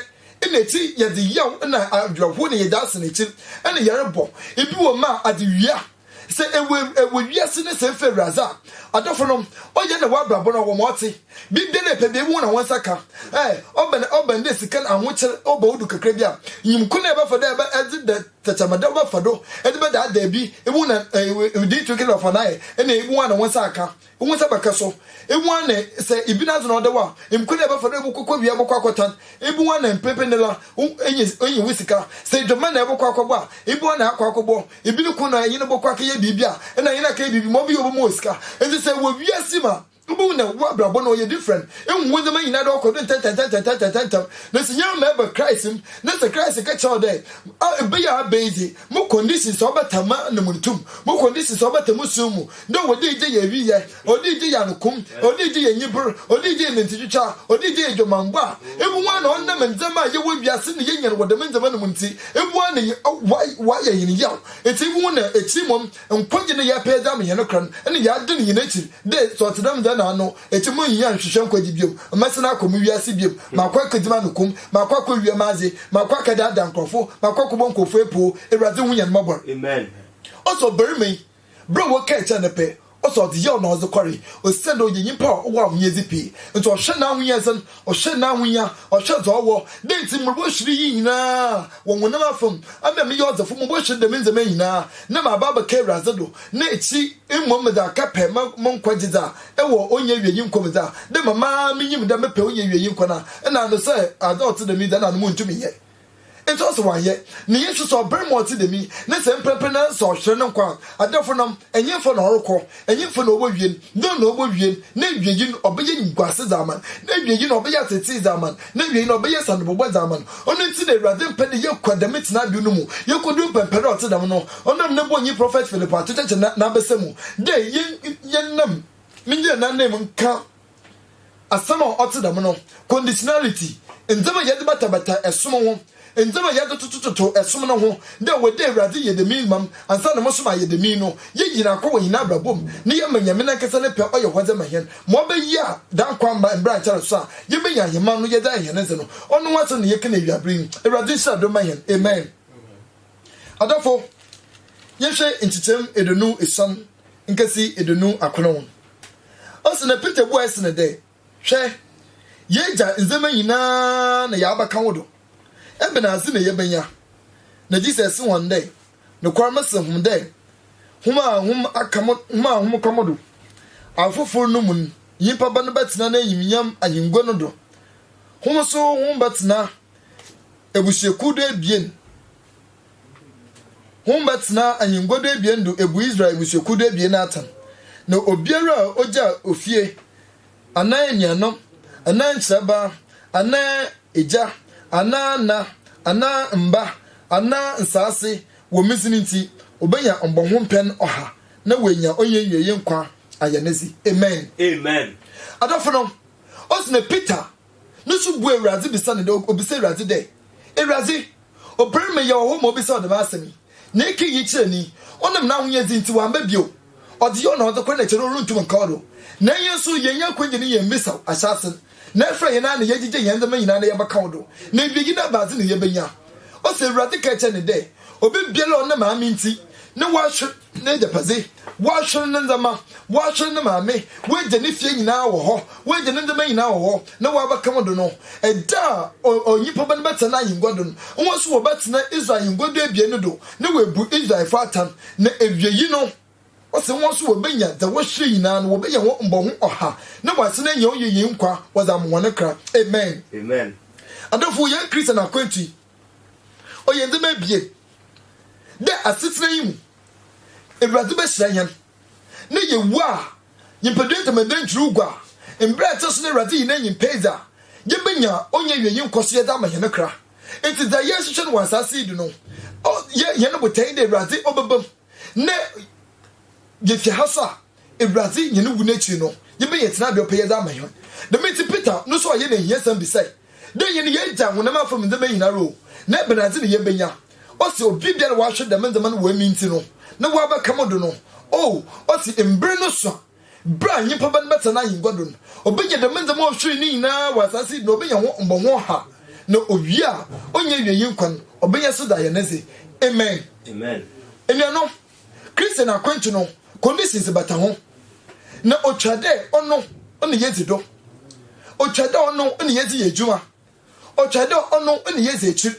S1: Nna ekyir yɛdze yaw na awerɛhow na yɛdze asan ekyir na yɛrobɔ. Bi wɔ mu a, adzewie a, sɛ ewɔ ewɔ wiase no sɛ efa Ewuradze a, adɔfo no, ɔyɛ na w'abrabɔ no ɔwɔ ma ɔtse. Biribiara a epɛ biara ibohu na wo nsa ka. Ɛ, ɔba no ɔba no dɛ sika na ahokyer ɔba wo do kakra bi a, nyim kwan a ebɛfa do a edze dɛ tɛkyerɛma da wobɛfa do edze bɛdaadaa bi, ibohu na ɛ ɛ ɛ, do itum kɛdɛ ɔfa no ayɛ na ibohu a na wo nsa aka. Wo ho sɛ bɛkɛ so ebu a nɛ sɛ ibi na zona ɔdɛ wa mkwe dɛ bɛfa do ebu kɔkɔ wia bɔkɔ akɔtan ebu wa nɛ mprepre nɛ la wo enye enye wo sika sɛ edwɔmɛ na ɛbɔkɔ akɔbɔ a ebu wa nɛ akɔ akɔbɔ ibi no kun na enye no bɔkɔ akɛyɛ biribi a ɛna enye no akɛyɛ biribi ma ɔbɛyɛ obu ma wɔ sika enti sɛ wɔ wiase ma Wobɛhu nɛ wo abrabɔ no ɔyɛ different ehu wo ndzɛmba nyina do ɔkɔ do ntɛntɛntɛntɛntɛntɛntɛntɛm na sɛ nyɛ ma ɛba Christ mu na sɛ Christ kɛ kyerɛ wo dɛ a ebɛyɛ a abɛyi dze mo conditions a ɔbɛta ma no mu no tum mo conditions a ɔbɛta mo su mu Dɛ wɔdze egye yɛ ewiyɛ, wɔdze egye yɛ anokum, wɔdze egye yɛ enyiber, wɔdze egye yɛ nantwitwitwa, wɔdze egye yɛ dwamambɔ a, ebo woana a ɔnam ndzɛmba a yɛwɔ wiase na yenya no wɔ dɛm ndzɛmba no mu ntsi, ebo woana nye ɔayɛ hɛn yaw. Etse ebo woana a ekyir mbom nkwagye no yɛrepɛ dze ama hɛn kra no nna yɛadan hɛn ekyir dɛ sɛ ɔtse dɛm dza nna ano ekyir munnhia annhwehwɛ nkwagye biom, mɛsan akɔ mo wiase biom, makɔ ekedzi m'anokum, makɔ akowia m'adze, makɔ akɛdaadaa nkorɔfo, makɔ akɔbɔ nkorɔfo epoo, Ewuradze hu hɛn mbɔbɔr. Amen.
S2: Ɔsɛ ɔbarimba
S1: yi Ber a wɔkaa kyerɛɛ no pɛ, ɔse ɔdze yaw na ɔdze kɔree, osiandɛ ɔyɛ nyimpa a ɔwɔ ahohiadze pii, ntsi ɔhwɛ n'ahohiadzen, ɔhwɛ n'ahohia, ɔhwɛ dza ɔwɔ, dɛ ntsi mobɔhwer iyi nyina wɔ honam afamu, ama meyɛ ɔdzefo, mobɔhwer dɛm ndzɛmba nyina, na maaba abɛka Ewuradze do, na ekyir mbom medze aka pɛ ma mo nkwa gyedzi a ewɔ onnyiewiei nkwa mu dze a, dɛ mama minyim dɛ mepɛ onnyiewiei nkwa no a, nna ano sɛ adze a ɔtse dɛm yi dze nna ano munntum nnyɛ. Enti ɔse wanyɛ ne Yesu sɛ ɔbarima a ɔte dɛm yi, ne sɛ mprɛmprɛ na sɛ ɔhwere ne nkwa a, adɛfo nam, ɛnyemfa na ɔrekɔ, ɛnyemfa na ɔbɔ wien, dɛn na ɔbɔ wien, n'awiei no ɔbɛyɛ animguase dze ama no, n'awiei no ɔbɛyɛ atseetsee dze ama no, n'awiei no ɔbɛyɛ sanebɔbɔ dze ama no. Ɔno ntsi na Ewuradze mmpɛ dɛ yɛkɔ dɛm tsenabew no mu, yekodu mpɛmpɛ dɛ ɔtse dɛm no, ɔnam ne bɔnyi prɔfɛt Philip ato kyɛkyɛ n'abasa mu dɛ yɛn, yɛn nam, mennyina n'ananmu nka Asɛm a ɔtse dɛm no, conditionality, ndzɛmba a yɛdze batabata som ho, ndzɛmba a yɛdze totototo som no ho, dɛ ɔwɔ dɛ Ewuradze yɛ dɛm yi ma m' ansa na moso maayɛ dɛm yi no, yegyin akɔ wɔ hɛn abrabɔ mu na yɛma Nyame nankasa ne pɛ ɔyɛ hɔ dze ma hɛn ma ɔbɛyɛ a dɛm akwamma mbra nkyɛr so a yebenya ahenman no yɛdze ayɛ hɛn ndze no. Ɔno ho asɛm na yɛkã no ewiaber yi. Ewuradze nhyira do mma hɛn. Amen. Adɔfo, yɛhwɛ nkyekyɛm eduonu esiam nkesi eduonu akron. Ɔse na Peter buae se no dɛ, Hwɛ, yeegya ndzɛmba nyina na yaabɛka wo do, ebɛnadze na yebenya? Na Jesus se hɔn dɛ, Nokwar mese hom dɛ, hom a hom aka mo hom a hom ka mo do afofor no mu no, nyimpa Ba no bɛtsena n'enyimnyam ahengua no do, hom so hom bɛtsena Ebusuakuw do ebien. Hom bɛtsena anyɛngua do ebien do ebu Israel ebusuakuw do ebien atsɛn, na obiara a ogyaa ofie, anaa enuanom, anaa nkyerɛbaa, anaa egya, anaa nã, anaa mba, anaa nsaase wɔ me dzin ntsi, obenya mbɔho mpɛn ɔha, na oenya onnyiewiei nkwa ayɛ ne dze. Amen. Amen. Adɔfo no, ose na Peter No so bua Ewuradze bisa no dɛ obisa Ewuradze dɛ, Ewuradze, obarima yi a ɔwɔ hɔ ma obisaa wo dɛm asɛm yi, na ekã iyi kyerɛɛ no yi, ɔnam n'ahonyadzi ntsi ɔammba bio? Ɔdze yaw na ɔdze kor na kyɛrɛ orunntum nnkã ɔdo. Na hɛn so, yɛnnyɛ akwangye na yɛmmbisa wo ahyɛase no, na efura hɛn ara na yɛgyegye hɛn ndzɛmba nyina na yɛbɛkã wo do, na ewiei no abadze na yebenya. Ɔsɛ Ewuradze kaa kyerɛɛ no dɛ, Obi biara a ɔnam Maame ntsi na ɔahwer, n'egyapadze, ɔahwer ne ndzɛmba, ɔahwer ne maame, ɔegya ne fie nyina wɔ hɔ, ɔegya ne ndzɛmba nyina wɔ hɔ, na ɔabɛka mo do no, da a Onyimpa Ba no bɛtsena n'ahengua do no, hɔn so wɔbɛtsena Israel ahengua du ebien no do, na woebu Israelfo atan, na ewiei no, ɔse hɔn so wobenya dza wɔhyirii nyina, na wɔbɛnya hɔn mbɔho ɔha, na wɔasan enya hɔn yiyii nkwa wɔdze ama hɔn kra. Amen. Adɔfo,
S2: hɛn
S1: Christian akwantu yi, Ɔyɛ ndzɛmba ebien dɛ asetsena yi mu Ewuradze bɛhyira hɛn na yewu a, nyimpadua ntamadan ntwiriw gua a, mbrɛ ɛtse so no Ewuradze yi n'enyimpa edzi a, yebenya onnyiewiei nkɔsoyɛ dze ama hɛn kra. Ntsi dza yɛrohwehwɛ no wɔ asaase yi do no, ɔyɛ hɛn botae dɛ Ewuradze ɔbɛba mu na yefi ha so a, Ewuradze nye no wu n'ekyir no, yebenya tsenabea ɔpɛ yɛdze ama hɛn. Dɛm ntsi Peter no so ayɛ no ehiasɛm bisae dɛ, Dɛn na yɛagyaa honam afamu ndzɛmba yi nyinara o, na ebɛnadze na yebenya? Ɔse, Obiara a ɔahwer dɛm ndzɛmba no wɔ emi ntsi no, na ɔabɛka mo do no, o, ɔse, mber no sua, ber a nyimpa Ba no bɛtsena n'ahengua do no, obenya dɛm ndzɛmba a ɔhweree no nyinara wɔ asaase yi do, na obenya hɔn mbɔho ɔha, na owie a, onnya ewiei nkwa no, ɔbɛyɛ so dze ayɛ ne dze. Amen. Enuanom. Christian akwantu no conditions bata ho, na otwa dɛ ɔno na yedzi do, otwa dɛ ɔno na yɛdze yɛ edwuma, otwa dɛ ɔno na yedzi ekyir.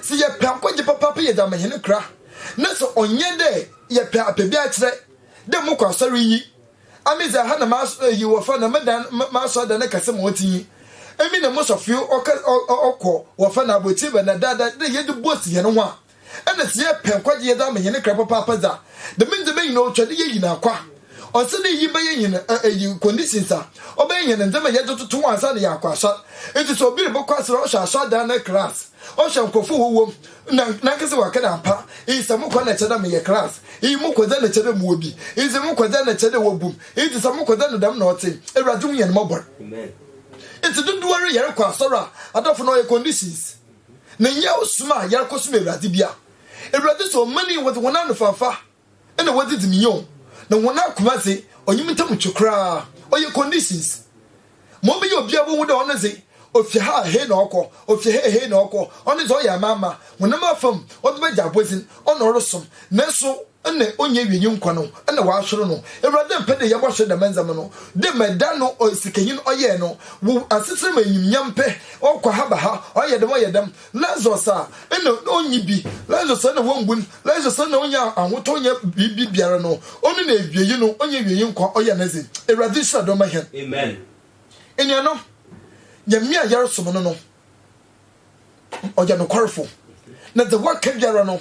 S1: Sɛ yɛpɛ akwagye papaapa yɛ dɛ ama hɛn kra, na sɛ ɔnnyɛ dɛ yɛpɛ apɛ bi akyerɛ dɛ mokɔ asɔr iyi, a me dze ha na iyi wɔfa no me dan, m'asɔrdan ne kɛse ma ɔtse yi, emi na mo sɔfeo ɔkɔ wɔfa no abɔtsir bɛn na dada dɛ yɛdze boast hɛn ho a, Nna sɛ yɛrepɛ nkwagye yɛdze ama hɛn kra papaapa dze a, dɛm ndzɛmba nyina otwa dɛ yeyi no akwa. Ɔnnsɛ dɛ iyi bɛyɛ hɛn eyi conditions a ɔbɛyɛ hɛn ndzɛmba a yɛdze toto ho ansaana yaakɔ asɔr. Ntsi sɛ obi robɔkɔ asɔr a ɔhwɛ asɔrdan no class, ɔhwɛ nkorɔfo a wɔwɔ mu, na nankasa ɔakã dɛ ampa iyi sɛ mokɔ na kyerɛ dɛ meyɛ class, iyi mokɔ dze na kyerɛ dɛ mowɔ bi, ndze mokɔ dze na kyerɛ dɛ wobu me, ndze sɛ mokɔ dze no dɛm na ɔtse. Ewuradze hu hɛn mbɔbɔr. Ntsi dodowara yɛrokɔ asɔr a, adɔfo na ɔyɛ conditions. Na nnyɛ ɔsom a yɛrekɔsom Ewuradze bi a Ewuradze sɛ ɔman yi wɔdze hɔn anofamfa na wɔdze dzi me nyew, na hɔn akoma dze ɔnye me ntamu twe koraa. Ɔyɛ conditions ma ɔbɛyɛ obiara bohu dɛ ɔno dze ofi ha a hei na ɔkɔ, ofi ha a hei na ɔkɔ, ɔno dze ɔyɛ amaama, honam afamu, ɔdze bɛgye abɔdzin, ɔna ɔrosom. Naaso. Nna onnyi wienyi nkwa no na wɔasoɛr no. Ewuradze mmpɛ dɛ yɛbɔsoɛr dɛm ndzɛmba no. Dɛ ma da no sikanyin ɔyɛe no, wo asetsena mu enyimnyam pɛ, ɔkɔ ha ba ha, ɔyɛ dɛm ɔyɛ dɛm. Lazarus a, nna onnyi bi, Lazarus a nna wombun, Lazarus a nna onnyi ahotɔ ɔnnyɛ biribi biara no, ɔno na ewiei no onnyi wienyi nkwa ɔyɛ nedze. Ewuradze nhyira dɔm ma hɛn. Amen. Enuanom, Nyame a yɛrosom no no, ɔyɛ nokwarefo na dza ɔaka biara no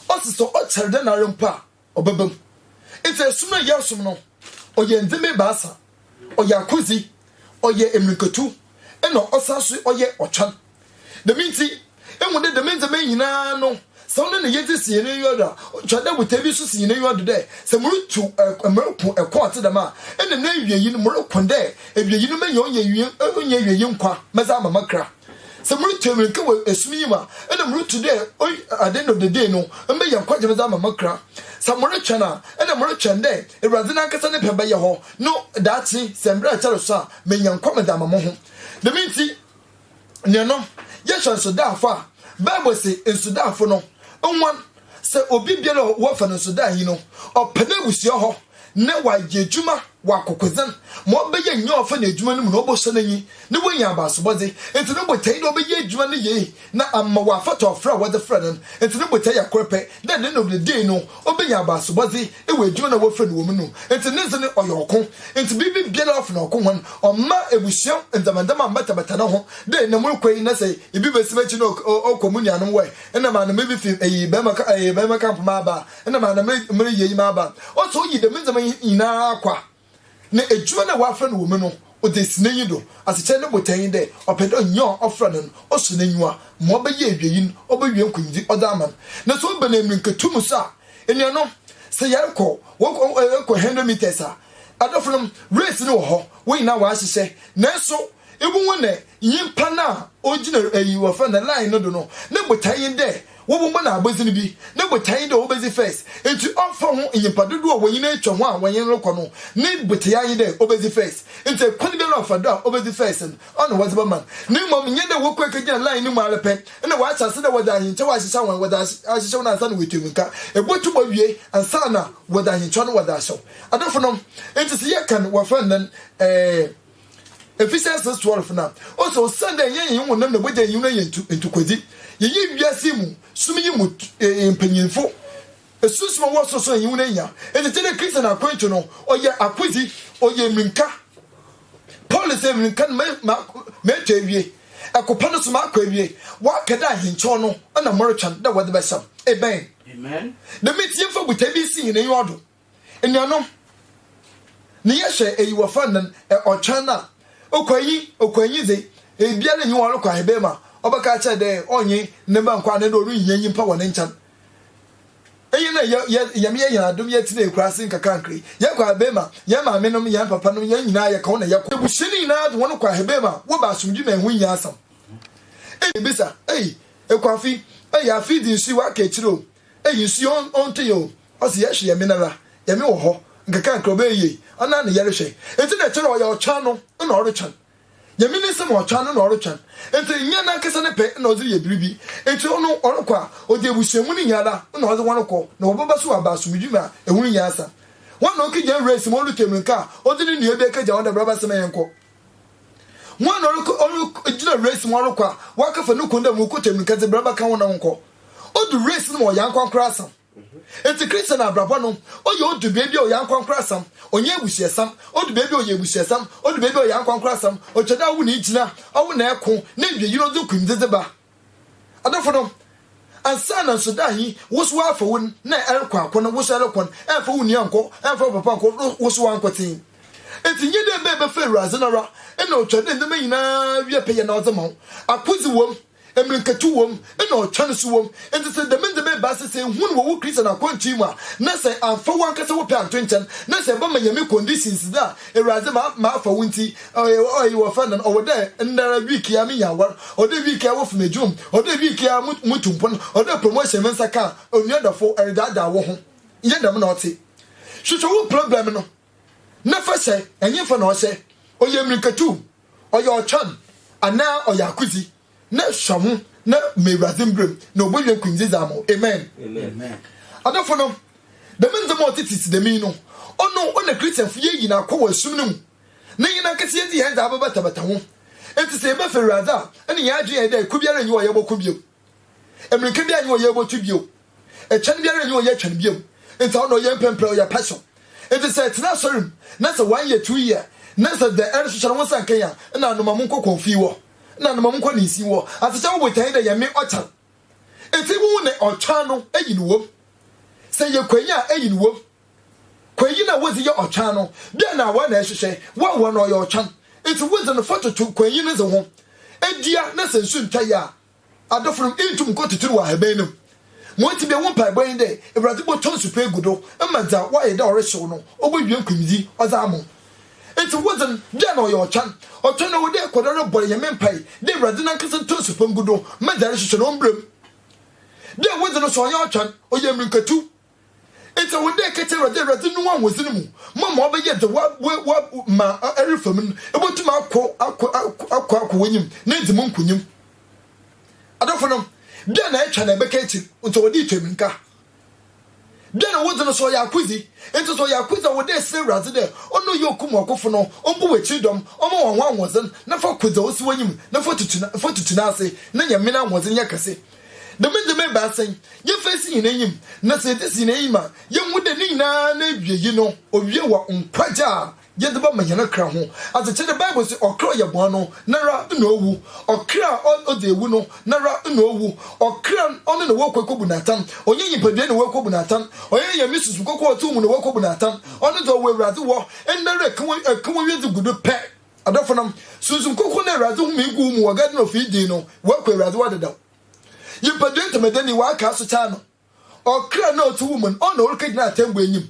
S1: ɔse sɛ ɔkyɛr dɛn ara mpo a ɔbɛba mu. Ntsi ɛsom a yɛsom no ɔyɛ ndzɛmba ebiasa, ɔyɛ akodzi, ɔyɛ mbirikatu na ɔsan so ɔyɛ ɔtweɔn. Dɛm ntsi, ehu dɛ dɛm ndzɛmba yi nyina no Sɛ wo ne no yedzi si hɛn enyiwa do a, ɔtwar dɛ botae bi so si hɛn enyiwa do dɛ sɛ murutu ɔk mereko ɔko a ɔtse dɛm a, nna n'ewiei no moroko dɛ ewiei no menya onnyiewiei nkwa medze ama makra. Sɛ murutu ewinka wɔ esum yi mu a, nna murutu dɛ oy ade no deden no meyɛ nkwagye medze ama makra. Sɛ morotwɛn a, nna morotwɛn dɛ Ewuradze nankasa ne pɛ bɛyɛ hɔ no daakye sɛ mber a ɛkyɛr so a menya nkwa medze ama moho. Dɛm ntsi, Nea no, yɛhwɛ nsodaafoɔ a, Bible se nsodaafoɔ no nwan sɛ obi biara a wɔfa no nsodaa yi no, ɔpɛ n'abusua hɔ na wayɛ adwuma wɔ akokodzen ma ɔbɛyɛ nyia ɔfa no adwuma no mu na ɔbɔhyɛ n'enyi na woenya abasobɔdze. Ntsi no botae nye dɛ ɔbɛyɛ adwuma no yie na ama ɔafata ɔfrɛ a wɔdze frɛ no no. Ntsi no botae yɛ kor pɛ, dɛ no nom no dee no, obenya abasobɔdze. Ewɔ edwuma na wɔfrɛ no wɔ mu no, ntsi ne dze no ɔyɛ ɔko. Ntsi biribi biara a ɔfa no ɔko ho no, ɔmma ebusua ndzɛmbandzɛmba mmbɛtabata no ho dɛ nna morokɔ yi na sɛ ibi besi m'ekyir na ɔkɔ mo nuanom hɔ ɛ, nna maana mirifi eyi bɛrima camp maaba a, nna maana mereyɛ iyi maaba a. Ɔsɛ oyi dɛm ndzɛmba yi nyina kɔ a, Na edwuma no a wɔafrɛ no wɔ mu no, ɔdze esi n'enyi do. Asekyerɛ no botae nye dɛ ɔpɛ dɛ nyia a ɔfrɛ no no, ɔsɔ n'enyiwa. Ma ɔbɛyɛ ewiei no, obewie nkonyimdzi ɔdze ama no. Na sɛ ɔba no emirikatu mu so a, enuanom, sɛ yɛrokɔ, wɔkɔ, yɛkɔ hundred metres a, adɔfo no, race no wɔ hɔ, hɔn nyina wɔahyehyɛ, naaso ibohu dɛ nyimpa no a ogyina eyi wɔfrɛ no line no do no, no botae nye dɛ Wobobu no abodzen bi, ne botae nye dɛ obedzi first, ntsi ɔmmfa ho nyimpa dodow a wɔnyin etwa ho a wɔnye no rokɔ no, ne botae ara nye dɛ obedzi first. Ntsi kwan biara a ɔfa do a obedzi first no, ɔno na wɔdze bɛma no, na mbom nnyɛ dɛ wɔkɔ ekegyina line no mu ara pɛ na wɔahyɛ ase dɛ wɔdze ahenkyɛw ahyehyɛ hɔn, wɔdze aahyehyɛw no ansaana woetua mu nka, ebotum owie ansaana wɔdze ahenkyɛw no wɔdze ahyɛw adɔfonom. Ntsi sɛ yɛkã no, wɔfrɛ no dɛn? Ɛɛ. Ephesians 6 12 na ɔsɛ osian dɛ yɛnye hɛn honam na bɔgya enyi no yɛ ntokwadzi, yɛyɛ wiadze yi mu sum yi mu mpanyimfo. Esunsum a ɔwɔ sor so enyi no hia, ntsi tse dɛ Christian akwantu no, ɔyɛ akodzi, ɔyɛ mirika. Paul se, Mirika no meetu ewie, ɛko pa no so makɔ ewie, wɔaka dɛ ahenkyɛw no na morotweɔn dɛ wɔdze bɛhyɛ m'. Amen. Dɛm ntsi yɛmfa botae bi nsi hɛn enyiwa do. Enuanom, ne yɛhyɛ eyi wɔ fa nan ɛ ɔtwɛn na, okwanyi, okwanyi dze, ebiara nnyi hɔ a ɔrokɔ ahebɛn mu a ɔbɛka akyerɛ dɛ ɔnye ne mba nkɔ anaa dɛ orunnhia nyimpa wɔ ne nkyɛn. Iyi na yɛ yɛ Nyame yɛ hɛn adom yɛtsena ekuraase nkakrankra yi, yɛkɔ ahebɛn mu a, hɛn maamenom, hɛn papanom, hɛn nyina yɛka hɔn na yɛkɔ. Ebusua no nyina dze hɔn kɔ ahebɛn mu a, wɔba asomdwee mu a hɛnho nnyi asɛm. Ebia ibebisa, Ei, Ekuafi, ei, afe yi dze nsu yi ɔaka ekyir o. Eyi nso yɛ ɔnntee o, ɔse yɛhwe yɛ me nara, yɛ me wɔ hɔ, nkakrankra ɔbɛyɛ yie, ɔnaa na yɛrehwɛ, nti na ɛkyerɛ ɔyɛ ɔtwɛn no na ɔretwɛn, yɛ me nsɛm ɔtwɛn no na ɔretwɛn, nti nyɛ nankasa ne pɛ na ɔdze reyɛ biribi, nti ɔno ɔrekɔ a ɔdze abusua mu no nyinara na ɔdze hɔn kɔ na wɔbɛba so aba asomdwi mu a ɛho nnyi asa, hɔn na ɔkegya nwura esi mu ɔretu amirika a ɔdze ne nua bi akegya hɔn dɛ bra bɛsɛmɛ yɛnkɔ. Hɔn na ɔrokɔ ɔrogyina race mu ɔrokɔ a, wɔakɛfa no kun dɛ ma okɔ tamirika dze bra bɛka wo na wonkɔ. Odu race no mu a ɔyɛ ankorankorasɛm. Ntsi Christian abrabɔ no, ɔyɛ odu beebi a ɔyɛ ankorankorasɛm, ɔnnyɛ ebusuasɛm, odu beebi a ɔyɛ ebusuasɛm, odu beebi a ɔyɛ ankorankorasɛm, ɔkyerɛ dɛ ɔwo na igyina, ɔwo na eko, na iwie yi no ɔdze okunndzi dze ba. Adɔfo no, ansa na nsoda yi wosow afa wo na ɛrekɔ akɔ no, wosow ɛrekɔ no, ɛmfa wo nua nkɔ, ɛmfa wo papa nkɔ, wosow ankotsee. Ntsi nyɛ dɛ mbɛ bɛfa Ewuradze no ara, nna otwar dɛ ndzɛmba nyina wie pɛyɛ na ɔdze ma wo. Akodze wɔ mu, mbirikatu wɔ mu, nna ɔtweɔn so wɔ mu. Ntsi sɛ dɛm ndzɛmba ebiasa sɛ ihu no wɔ wo Christian akwantu yi mu a, na sɛ ammfa wankasa wo pɛ annto nkyɛn, na sɛ ebɛma Nyame conditions dze a, Ewuradze, ma mafa wo ntsi, ɔyɛ yi wɔfrɛ no no, ɔwɔ dɛ ndɛra week yi ara minya awar, ɔwɔ dɛ week yi ara wofi m'edwuma mu, ɔwɔ dɛ week yi ara mutu mpon, ɔwɔ dɛ promotion me nsa kã a, onua dɔfo, eredaadaa woho, nnyɛ dɛm na ɔtse. Hwehwɛ wo problem no na fa hyɛ, nyimfa na ɔhyɛ, ɔyɛ mbirikatu, ɔyɛ ɔtweɔn, anaa ɔyɛ akodzi. Ne sɔ ho na ma Ewuradze mberɛ mu na obowie nkunimdzi dze ama wo. Amen. Adɔfo no, dɛm ndzɛmba a ɔtsetsetse dɛm yi no, ɔno na Christianfo yeeyi na akɔ wɔ esum no mu, na hɛn ankasa yedzi hɛn dze abɛbatabata ho. Ntsi sɛ yɛbɛfa Ewuradze a, nna hɛn adwen yɛ dɛ ko biara nnyi hɔ a yɛbɔko bio. Mbirika biara nnyi hɔ a yebotu bio. Ɛkyɛn biara nni hɔ yɛ kyɛn bio. Nti ɔno ɔyɛ mpɛnprɛ ɔyɛ pɛso. Nti sɛ ɛtena asɔre mu na sɛ one year two year na sɛ dɛ ɛre so hyɛ no ho sɛ nkan a na anoma mu nkɔ kɔnfii wɔ na anoma mu nkɔ ne nsin wɔ ase kyɛ wo botan dɛ yɛ me ɔkyan nti wo ne ɔkyan no ayi no wom sɛ yɛ kwayi a ayi no wom kwayi na wodzi yɛ ɔkyan no dɛ na awa na ɛhyehyɛ wa wa na ɔyɛ ɔkyan nti wodzi no fa toto kwayi no dze ho adua na sɛ nsu ntwa yɛ a Adɔfonom, inntum nnkɔ tsitsir wɔ ahaban no mu. Ma ɔntsi biara wo mpaabɔ nye dɛ Ewuradze bɔtɔ nsu pa egu do ma dza ɔayɛ dɛ ɔrehyew no obowie nkwimdzi ɔdze ama wo. Ntsi wodze no, bia nna ɔyɛ ɔtweɔn. Ɔtweɔn no, ɔwɔ dɛ ekɔ do ara bɔ Nyame mpaa dɛ Ewuradze nankasa ntɔ nsu pa ngu do ma dza erohwehwɛ no ɔmbra mu. Dɛ wodze no so ɔnnyɛ ɔtweɔn, ɔyɛ mbirikatu. Ntsi ɔwɔ dɛ ekɛtsɛ Ewuradze, Ewuradze no ahoɔdzen mu, ma ma ɔbɛyɛ dza Wɔ ma erefa mu no, ebotum akɔ akɔ akɔ akɔ w'enyim na edzi mu nkonyim. Adɔfonom, dɛn na etwa na ebɛka ekyir? Ntsi ɔwɔ dɛ itwa mbirika. Dɛn na wodzi no, sɛ ɔyɛ akodzi? Ntsi sɛ ɔyɛ akodzi a, ɔwɔ dɛ esrɛ Ewuradze dɛ Ɔno a Ɔyɛ Okum Ɔkofo no, Ɔmmbɔ w'ekyir dɔm, Ɔmma hɔn ho ahoɔdzen, na fa kɔ dza osi w'enyim, na fa tutu na fa tutu N'ase, na nya Men'ahoɔdzen nyɛ kɛse. Dɛm ndzɛmba ebiasa yi, yɛfa esi hɛn enyim, na sɛ yɛdze si hɛn enyim a, yehu dɛ ne nyina n'ewiei no, owie wɔ nkwagye a yɛdze bɛma hɛn kra ho. Adze kyɛn dɛ Bible se ɔkra a ɔyɛ bɔn no, noara na owu. Ɔkra a ɔdze ewu no, noara na owu. Ɔkra no, ɔno na wɔkɔ ekobu no atsɛn. Ɔnnyɛ nyimpadua na wɔkɔbu no atsɛn. Ɔnnyɛ Nyame susu kɔkɔɔ a ɔtse wo mu na wɔkɔbu no atsɛn. Ɔno dze ɔwɔ Ewuradze hɔ nda ara, eka wo wiadze gu do pɛ. Adɔfonom, Sunsum Kronkron na Ewuradze homee guu mu wɔ Garden of Eden no, woeku Ewuradze wɔ dedaw. Nyimpadua ntamadanyi wɔakaa so taa no, ɔkra no a ɔtse wo mu no, ɔna orikegyina atsɛmbu enyim.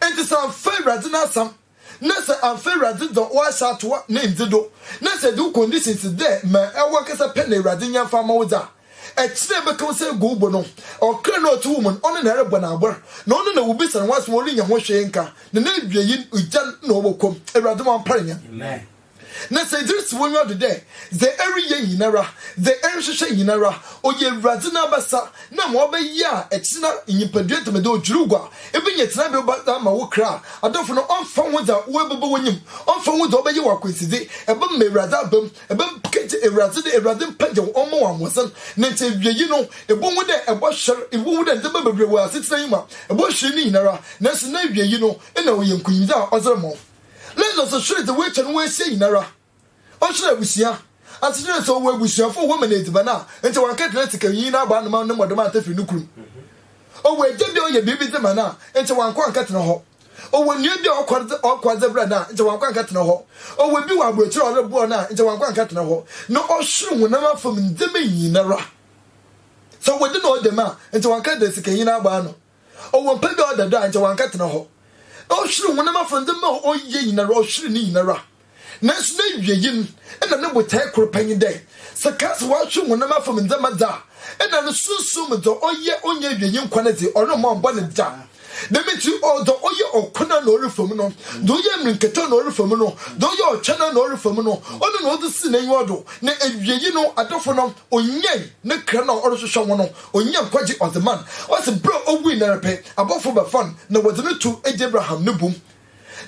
S1: Ntsi sɛ ammfa Ewuradze n'asɛm, na sɛ ammfa Ewuradze dza ɔahyɛ ato wo ne ndze do, na sɛ edze wo conditions dɛ ma ewɔ ankasa pɛ na Ewuradze nnyɛ mfa mma wo dze a, Akyiri a ɛbɛka wo sɛ agu wo bo no, ɔkra no a ɔte wo mu no, ɔne na ɛrebɔ no abɔ, na ɔne na wobisa no w'asɛm a ɔrennya ho hwee nka, na n'awiei no, ogya na ɔbɛkɔ mu. Awurade ma ɔmpare yɛn. Na sɛ edze si w'enyiwa do dɛ, dza ereyɛ nyinara, dza erohwehwɛ nyinara, ɔyɛ Ewuradze n'abasa, na ma ɔbɛyɛ a, ɛkyena no, nyimpadua dɛm dɛ odwiriw gua, ibenya tsenabea pa dze ama wo kra. Adɔfo no, ɔmmfa ho dza oebɛba w'enyim, ɔmmfa ho dza ɔbɛyɛ wo akwansidze, ebɛma Ewuradze aba mu, Ebɛnpkɛ ntsi Ewuradze dɛ Ewuradze mpɛgya wo, ɔmma wo ahoɔdzen, na ntsi ewiei no, ibohu dɛ ebɔhwer, ibohu dɛ ndzɛmba beberee wɔ asetsena yi mu a ebɔhwer ne nyinara, naaso n'ewiei no, nna ɔyɛ nkonyimdzi a ɔdze rema wo. Lazarus hwer dze oeetwa no ho ehyia nyinara? Ɔhwer ebusua. Asekyerɛ dɛ sɛ ɔwɔ ebusuafo a wɔma no edziban a, nkyɛ ɔannkɛgye n'atsikanyi n'abɔ ano ma no mɔdom anntafir no kurom. Ɔwɔ egya bi a ɔyɛ biribi dze ma no a, nkyɛ ɔannkɔ annkɛtsena hɔ. ɔwɔ nua bi a ɔkɔ adze berɛ no a nkyɛ wankɔ ankɛtena hɔ ɔwɔ bi wɔ aburokyerɛ a ɔreboa no a nkyɛ wankɔ ankɛtena hɔ na ɔhwere honam afam ndzɛmba nyinara sɛ wɔde na ɔdɛm a nkyɛ wanka dɛ sikanyi no abɔ ano ɔwɔ mpa bi a ɔda do a nkyɛ wankɛtena hɔ ɔhwere honam afam ndzɛmba a ɔyɛ nyinara ɔhwere ne nyinara Naaso n'ewiei no, nna no botae kor pɛ nye dɛ sɛ Kasa ɔatwe honam afamu ndzɛmba dze a, nna no sunsum mu dza ɔyɛ onnya ewiei nkwa no dze, ɔremma ɔmmbɔ no da. Dɛm ntsi, dza ɔyɛ ɔkõ no a nna ɔrefa mu no, dza ɔyɛ mbirikatu a nna ɔrefa mu no, dza ɔyɛ ɔtweɔn a nna ɔrefa mu no, ɔno na ɔdze sii n'enyiwa do, na ewiei no, adɔfo no, onyae ne kra no a ɔrohwehwɛ ho no, onyaa nkwagye ɔdze maa no. Ɔse ber a owui no ara pɛ, abɔfo bɛfaa no na wɔdze no too egya Abraham no bum.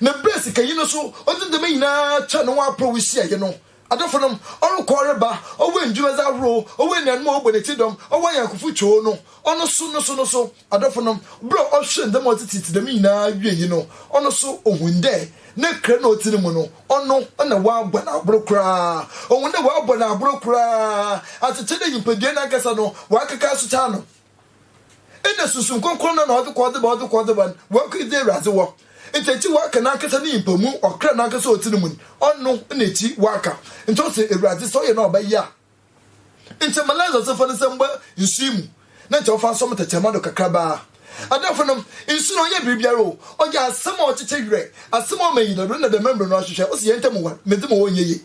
S1: Na ber a sikanyi no so ɔdze ndzɛmba nyina kyɛɛ no ho aporow hyiae yi no, adɔfonom, ɔrokɔ reba, ɔwɔ ndwumadze ahorow, ɔwɔ enuanom a wɔbɔ n'ekyir dɔm, ɔwɔ anyɛnkofo too no, ɔno so, no so, no so, adɔfonom, ber a ɔhwɛɛ ndzɛmba a ɔtsetsetse dɛm nyina wiei no, ɔno so ohun dɛ ne kra na ɔtse no mu no, ɔno na wɔabɔ no abor koraa. Ohun dɛ wɔabɔ no abor koraa, akyekyer dɛ nyimpadua nankasa no, wɔakeka asokyer ano. Nna Sunsum Krɔnkrɔn no na ɔdze kɔ ɔdze ba ɔdze kɔ ɔdze ba no, woeku dze Ewuradze wɔ. Ntsi ekyir wɔakã nankasa ne nyimpa mu, ɔkra nankasa ɔtse no mu no, ɔno na ekyir wɔakã. Ntsi ɔse, Ewuradze, sɛ ɔyɛ na ɔbɛyɛ a, nkyɛ ma Lazarus mfa ne nsa mba nsu mu na nkyɛ ɔmfa nsɔ me tɛkyerɛma do kakraba ara. Adɔfonom, nsu no ɔnnyɛ biribiara o, ɔyɛ asɛm a ɔkyekye werɛ, asɛm a ɔma enyidado na dɛm mber no ɔhwehwɛ, ose hɛn ntamu war, medze mo hɔ ɔnnyɛ yie.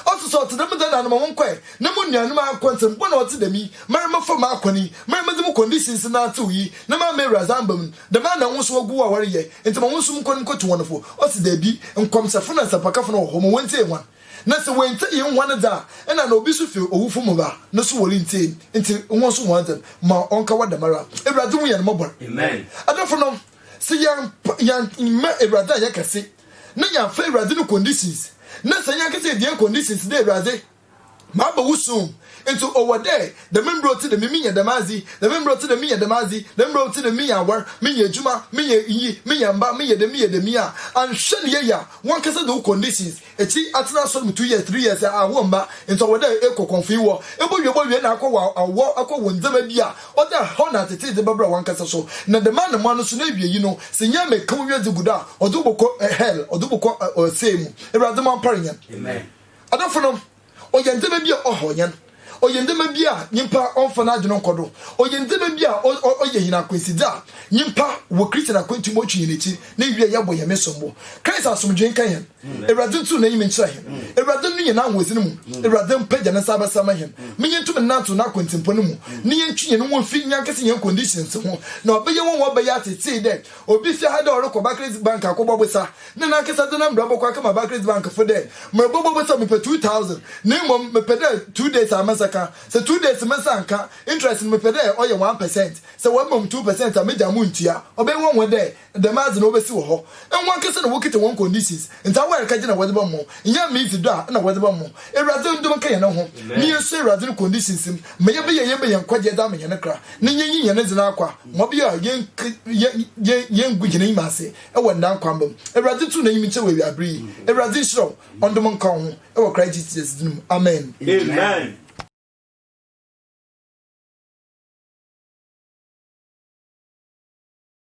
S1: Ɔse sɛ ɔtse dɛm dɛn na ano ma wɔnkɔɛ na mo nuanom aankɔ nsɛm bɔn a ɔtse dɛm yi mara mɛfa mu aakɔ ne yi mara medze mo conditions nnantsew yi na maa m'Ewuradze ammba mu no dɛm ara na hɔn so wɔgu wo a wɔreyɛ ntsi ma hɔn so monkɔ no mokotu hɔn fo ɔse daabi nkɔmhyɛfo na nsɛmpakafo no wɔ hɔ ma wontsie hɔn na sɛ woenntsie hɛn hɔn dze a nna na obi so fi owufo mu ba no so worentsie ntsi hɔn so hɔn dze no ma ɔnka hɔ dɛm ara Ewuradze hu hɛn mmɔbɔr adɔfo nom se yɛn yɛn mma Ewuradze a yɛkɛse. na yɛafa Ewuradze no conditions, na sɛ hɛn ankasa yedua conditions dɛ Ewuradze, mabɔ wo soon, ntsi ɔwɔ dɛ dɛm mbrɛ ɔtse dɛm yi menya dɛm adze, dɛm mbrɛ ɔtse dɛm menya dɛm adze, dɛm mbrɛ ɔtse dɛm menya awar, menya edwuma, menya iyi, menya mba, meyɛ dɛm, meyɛ dɛm yi a, annhwɛ no yie a, wankasa dze wo conditions, ekyir yi atsena asɔr mu two years, three years a, awɔ mba, ntsi ɔwɔ dɛ ekɔ kɔnfoewɔ, ebowie bɔwie na akɔ wɔ awɔ, akɔ wɔ ndzɛmba bi a Ɔda hɔ na atsetse dze bɛbra wankasa so, na dɛm ara na mo ano so n'ewiei no, sɛ nyia mekã wo wiadze gu do a, ɔdze wo bɔkɔ hɛl, ɔdze wo bɔkɔ ɔsɛɛ mu. Ewuradze mo ampar hɛn. Adɔfo no, ɔyɛ ndzɛmba bi a ɔhaw hɛn, ɔyɛ ndzɛmba bi a nyimpa ɔmmfa n'adwen nnkɔ do, ɔyɛ ndzɛmba bi a ɔyɛ hɛn akwansidze a nyimpa wɔ Christian akwantu mu otwi hɛn ekyir, na ewiei yɛbɔ hɛn me sombo. Christ asomdwee nka hɛn. Awurade ntu n'enyim nkyerɛ hɛn. Awurade no nye n'ahoɔdzen mu. Awurade mpagya ne nsa abɛsɛɛma hɛn ma yentum nnantsew n'akwantsenpɔn no mu, na yentwe hɛn ho mfi nyankasa hɛn conditions ho. Na ɔbɛyɛ nwanwa, ɔbɛyɛ atsetsee dɛ obi fi ha dɛ ɔrokɔ Barclays Bank akɔbɔ bosa, na nankasa dze n'mbra bɔkɔ akɛma Barclays Bankfo dɛ, Morobɔbɔ bosa, mepɛ two thousand, na mbom mepɛ dɛ two days a me nsa kã. Sɛ two days me nsa annkã, interest no mepɛ dɛ ɔyɛ one percent. Sɛ wɔama mu two percent a, megyaa mu nntua. Ɔbɛyɛ nwanwa dɛ. Dɛm adze no obesi wɔ hɔ nwankese na wokitsa hɔn conditions ntsi awɔyar kɛgye na wɔdze bɛmɔ, nnyɛ Miifi dɔ a nna wɔdze bɛmɔ. Ewuradze ndom nkã hɛn ho na yennsua Ewuradze no conditions mu ma yɛbɛyɛ yɛn bɛ hɛn nkwagye dze ama hɛn kra na yenyi hɛn ndze no akwa ma ɔbɛyɛ a yenngu hɛn enyim ase wɔ nda nkwamba mu. Ewuradze tu n'enyimnkyɛ wɔ ewiaber yi. Ewuradze nhyira wo, Ɔndom nkã wo ho wɔ Christ Jesus dzin mu, amen.